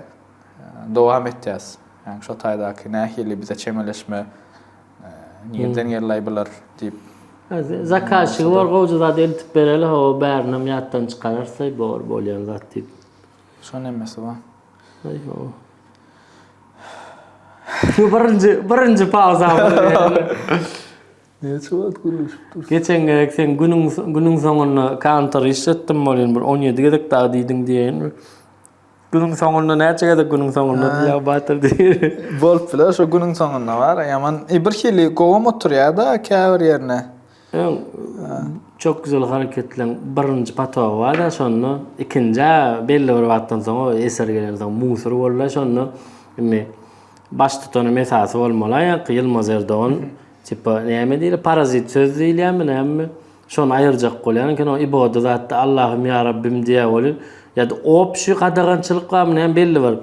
dowam etýäs. Ýagny şo taýdaky nähili bize çemeleşme Nirden geldi bular diyip. Zakazçygy bor gowja zat eltip bereli ho bärinam ýatdan çykararsa bor bolýan zat diýip. Şo nemesi ba? Aý ho. Şu birinji birinji pauza. Näçe wagt gürleşip dursun? Geçen gezek sen günüň günüň soňunda kantor işletdim bolýan bir 17 gezek dagy diýdiň diýen. Günüň soňunda näçe gezek günüň soňunda diýýär o batyr diýip. Bolup biler şu günüň soňunda bar ýaman e, bir hili gowam oturýar-da käbir ýerine. Öň çok güzel hareketleň birinji patogy bar-da şonda ikinji belli bir wagtdan soň o eser gelen soň musur boldy şonda indi baş tutanym esasy bolmaly ýa-ki Ýylmaz Erdogan tipa näme diýilýär parazit söz diýilýärmi näme Şony aýyrjak bolýan eken o iboda zatda Allahym ýa Rabbim diýä weli ýa-da obşi gadagançylyk barmy näme belli bir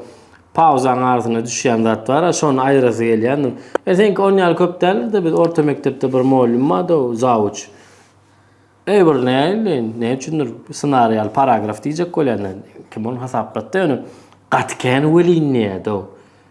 pauzaň arasynda düşýän zat bar a şony aýyrasy gelýän. E seňki on ýaly köp däldir-de biz orta mekdepde bir mugallym bardy o zawuç. Eý bir näli ne üçindir synar ýaly paragraf diýjek bolýan kim ony hasaplatdy ýöne gaty kän welin diýýädi o.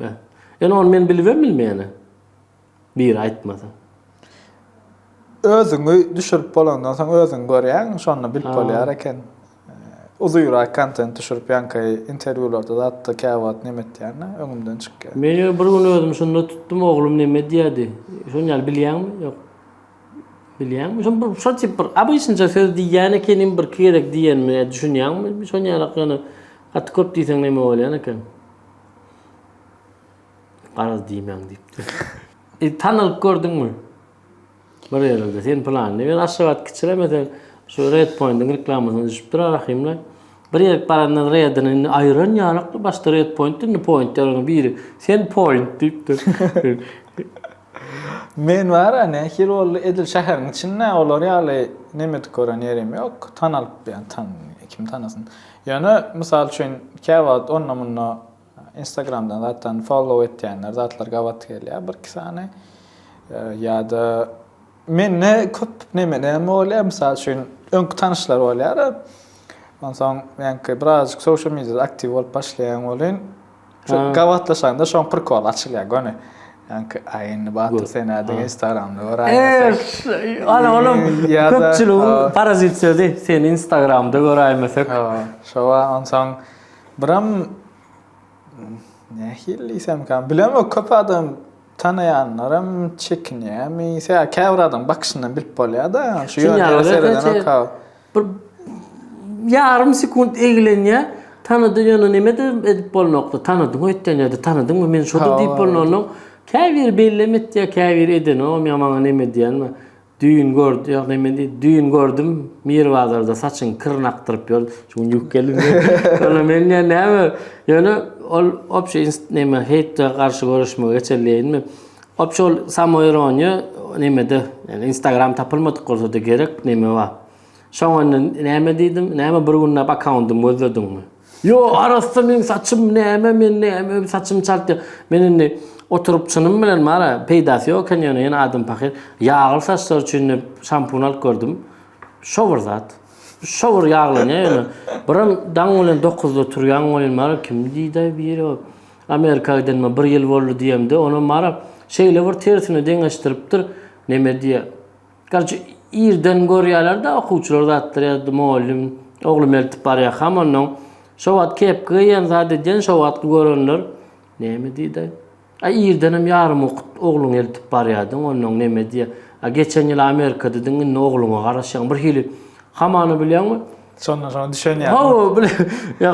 Hä. Ýöne ony men bilibem bilmeýän-ä. Biri aýtmasa. Özüňi düşürip bolandan soň özüň görýäň, şonda bilip bolýar eken. Uzynrak kontent düşürip ýaňky interwýularda zatda käwagt neme etýäne, öňümden çykýar. Men ýöne bir gün özümi şunda tutdum, oglum neme edýärdi? Şony ýaly bilýäňmi? Ýok. Bilýäňmi? Şony bir şol tip bir obyçnja söz diýýän ekenim, bir iki gezek diýenimi düşünýäňmi? Şony ýaly ýöne gaty köp diýseň neme bolýan eken. Garaz diýmäň diýipdir. E, tanalyp gördüňmi? Bir ýerde sen planly bir Aşgabat kiçilemese şu Red Pointiň reklamasyna düşüpdir Rahimle. Bir ýerik barandan Redini indi aýyran ýalakdy başda Red Point indi point ýalyň biri. Sen point diýipdir. Men bara nähili boldy edil şäheriň içinde olar ýaly nemedik gören ýerim ýok. Tanalyp ýan tan kim tanasyn. Ýöne mysal üçin käwagt onda munda instagramdan zatdan follow etýänler zatlar gabat gelýär bir iki sany ýa-da Mende köp nemenem bolýar, mysal üçin, öňki tanyşlar bolýar. Onsoň meňki birazajyk social mediada aktiw bolup başlaýan welin, şu gabatlaşanda şoň prikol açylýar göni. Ýaňky aý indi Batyr sen nädip Instagramda göräýmesek. Ana olam köpçüligiň parazit sözi, seni Instagramda göräýmesek. Şowa onsoň biram nähili diýsemka, bilemok köp adam Tanaýanlaram çekinýärmi? Sebäbi käbir adam bakyşyndan bilip bolýar-da. Şu ýöne seredenokka. Bir ýarym sekunt eglenýär. Tanady ýöne neme-de edip bolnokdy. Tanadyň öýtýän ýa-da tanadyňmy men şo-da diýip bolnanok. Käbiri bellem etýär, käbiri edenogam ýa maňa neme diýýänmi. Düýn gördüm, ýagny men diýip, düýn gördüm, Miri bazarda saçyň kirini akdyryp ýör. Şu gün ýuwup geldim diýip. Ýöne men diýen näme? Ýöne ol obşi neme heýte garşy göreşmegi geçeli diýenmi? Obşi ol samoironiýa nemede, ýagny Instagram tapylmadyk bolsa-da gerek neme bar. Şoňa indi näme diýdim? Näme bir günläp akkauntym gözlediňmi? Ýo, arassa meň saçym näme, men näme öýüp saçym çaltýan. Men indi oturyp çynym bilen mara peýdasy ýok eken ýöne ýene adam pahyr. Ýagly saçlar üçin diýip şampun alyp gördüm. Şo bir zat. Şo bir ýaglanýar ýöne. Birem daň bilen dokuzda turýan welin mara kim diýdaý biri. Amerika gidenime bir ýyl boldy diýemde onam mara şeýle bir tersine deňeşdiripdir. Neme diýä. Garçy irden görýärler-de okuwçylar zatlar ýa-da mugallym oglum eltip barýarkam onnoň şo wagt kepki geýen zat edýän şo wagtky görenler näme diýdi-aý? A irdenem ýarym okup ogluňy eltip barýardyň onnoň näme diýýär? A geçen ýyl Amerikadadyň indi ogluňa garaşýaň birhili hamana bilýäňmi? Şondan soň düşen ýaly. Hawa, bile. Ýa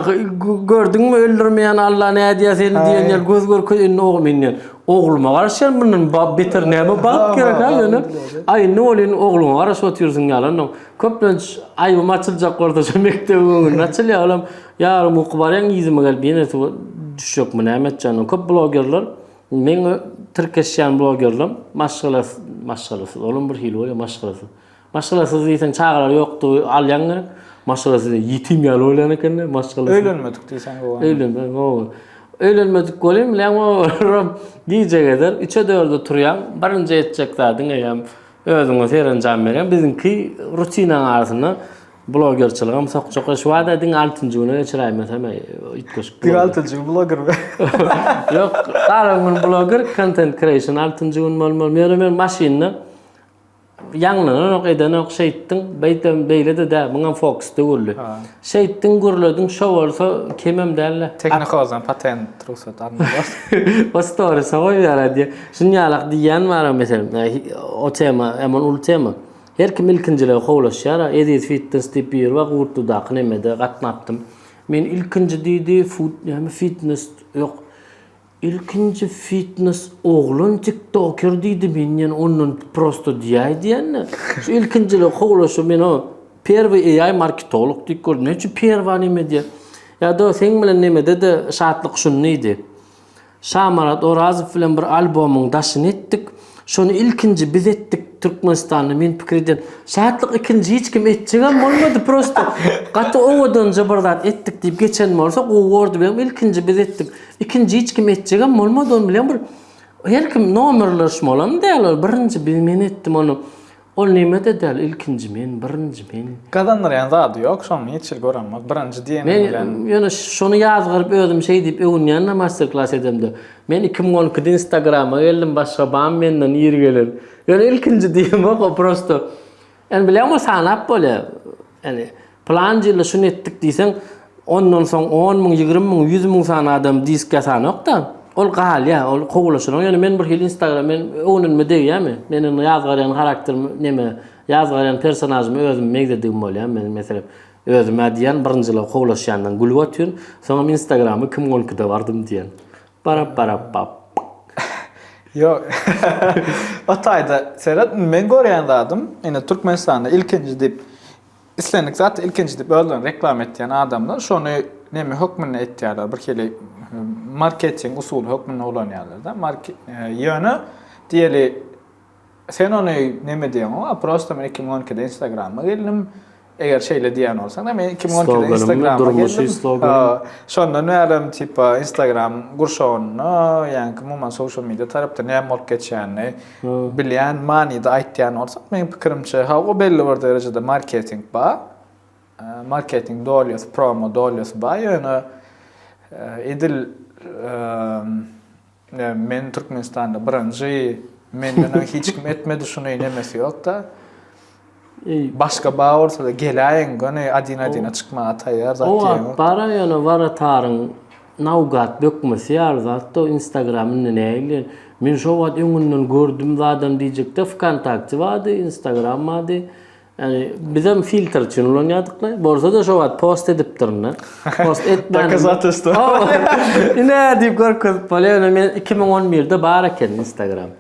gördüňmi öldürmeýän Alla nädýär seni diýen ýaly göz görkez indi oglum indi. Ogluma garaşýan mundan beter näme bagt gerek ha ýöne. Aý indi ol indi ogluňa garaşyp otyrsyň ýalanam. Köplenç aýbym açyljak bolsa şu mekdebiň öňünde açylýar olam. Ýarym uky barýan yzyma gelip ýene suwa düşjekmi näme etjegini. Köp blogerler meň tirkeşýän blogerlerim maşgala maşgalasyz olam bir hili bolýar maşgalasyz. Maşgalasyz diýseň çagalar ýokdy alýaň gerek. Maşgalasyz diýseň ýetim ýaly bolýan ekende maşgalasyz. Öýlenmedik diýseň gowy. Öýlenmedik gowy. Öýlenmedik bolýan bilen olam gije gezer 3-e 4-e turýaň. Birinji etjek zadyň eýýäm özüňe serenjam berýäň. Biziňki rutinaň arasynda blogerçiligem sokjak. Şu bada diňe altynjy güne geçiräýmesem üýtgeşik. Diňe altynjy gün bloger mi? Ýok, galan gün bloger content creation altynjy gün bolmaly. Ýöne men maşynda Ýaňlananok, edenok, şeýtdiň, beýtem, beýle-de däl, muňam fokus döwürli. Şeýtdiň, gürlediň, şo bolsa kemem däl-le. Technicolor-dan patent, rugsat almaly bolsa. Bu stories-a goýberýär diýýär. Şunuň ýalak diýýän bar-a, meselem, o tema, emon uly tema. Her kim ilkinjiligi howlaşýar-a. Eziz Fitness diýip biri bar, Gurtludaky nemede gatnapdym. Men ilkinji diýdi, food, näme, fitness, ýok, Ilkinji fitnes oglan tiktoker diýdi men ýene ondan prosto diýäý diýende şu ilkinjiligi kowlaşyp men o perwy AI marketolog diýip gördüm näme üçin perwa neme diýä ýada seň bilen nemedede şatlyk şuny diýdi Şamarat Orazow bilen bir albomyň daşyny etdik. Şony ilkinji biz etdik Türkmenistanda men pikir edýän. Şatlyk ikinji hiç kim etjegem bolmady prosta. Gaty owadanja bir zat etdik diýip geçen bolsa gowy bordy benim ilkinji biz etdik. Ikinji hiç kim etjegem bolmady ony bilen bir her kim nomerler şmolam däl ol birinji biz men etdim ony. Ol neme-de däl, ilkinji men, birinji men. Gazandyrýan zady ýok, şony hiç hili gören bol, birinji diýeniň bilen. Men ýöne şony ýazgaryp özüm şeý diýip öwünýän-de master-klass edemde. Men iki müň on ikide instagrama geldim, başga bamy menden iri gelen. Ýöne ilkinji diýemok, o prosto. Ýöne bilýäňmi, sanap bolýar. Ýagny, pylanjy ýylda şuny etdik diýseň, ondan soň on müň, ýigrimi müň, ýüz müň sany adam disk ýasanok-da. Ol galýar, ol kowulaşanok. Ýöne men birhili Instagram, men göwnüme degýärmi? Meniň indi ýazgarýan harakterim neme? Ýazgarýan personažymy özüm megzedigim bolýar. Men, meselem, özüm-ä diýýän, birinjiler kowulaşýandan gülüp otyryn. Soňam Instagramy kim onki-de bardym diýýän. Barapbarapbap. Ýok. O taýda seret, indi meň görýän zadym, indi Türkmenistanda ilkinji diýip, islendik zat ilkinji diýip özlerini reklama etýän adamlar şony neme hökmünde etýärler, birhili marketing usuly hökmünde ulanýarlar-da. Ýöne diýeli Sen ony neme diýeňow a prosta men iki müň on ikide instagrama geldim eger şeýle diýýän bolsaňda men iki müň on ikide instagrama geldim durmuşy slogan şondan bärem tipa instagram gurşawynda ýaňky umuman social media tarapda näme bolup geçýänini bilýän manyda aýtýan bolsak meň pikirimçe hawa belli bir derejede marketing bar marketing dolýasy promo dolýasy bar ýöne edil Men Türkmenistanda birinji menden öň hiç kim etmedi şuny nemesi ýokda. Başga ba bolsada geläýiň göni adin adina çykmaga taýýar zat ýok. Owat bara ýöne warataryň nawgat bökmesi ýaly zatda instagram indi nähili men şo wagt öňünden gördüm zadam diýjekde vkontakte bardy instagram bardy. Ýani bizem filtr üçin ulanýadykla. Bolsa-da şo wagt post edipdirin-de. Post etmän. Dokazatelstwo. Ine diýip görkezip bolýar. Ýöne men 2011-de bar eken Instagram.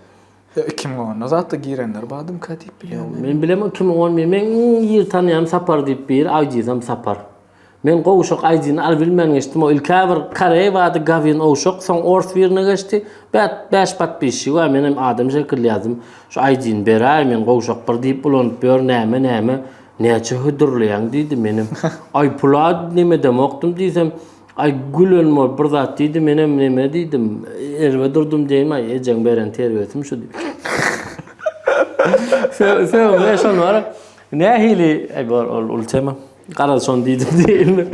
Ýa 2010-da zatda girenler badym ka diýip bilýän. Men bilemok 2011. Meň iň ýygy tanýanym Sapar diýip biri, aýdýysam Sapar. Men gowşak aýdyny al bilmän geçdim o ilk-ä bir koreý bardy gawin owşak soň ors birine geçdi bät bäş patpisçigi bar menem adam şekilli ýazdym şu aýdyny beräý men gowşak bir diýip ulanyp ýör näme näme näçe hödürleýäň diýdi menem aý pula nemedemokdym diýsem aý gülen bol bir zat diýdi menem neme diýdim erbet urdum diýeýin aý ejeň beren terbiýesim şu diýdim soňra şonora nähili aý bor ol uly tema. Garaz şony diýdim diýilmir.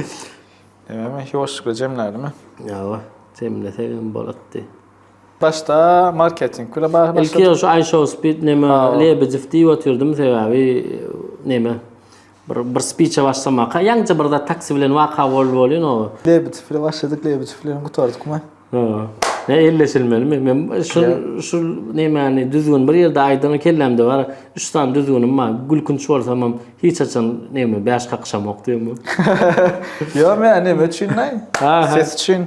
Näme, ýoşlukly jemläliňmi? Ýa-ba, jemlesegem bolatdy. Başda marketing bile bar. Ilki ýa şu iShowSpeed näme Lebedew diýip otyrdym, sebäbi näme bir bir spiçe başlamaka, ýaňja bir zat taksi bilen waka boldy bolýan o. Lebedew bile başladyk, Lebedew bilen gutardyk, ýa? Näme elleşilmelimi? Men şu şu nämäni düzgün bir ýerde aýdyň kellämde bar. Üç sany düzgünim bar. Gülkünç bolsam hem hiç haçan näme bäş kakyşamok diýemok. Ýa men näme üçin näý? Ses üçin.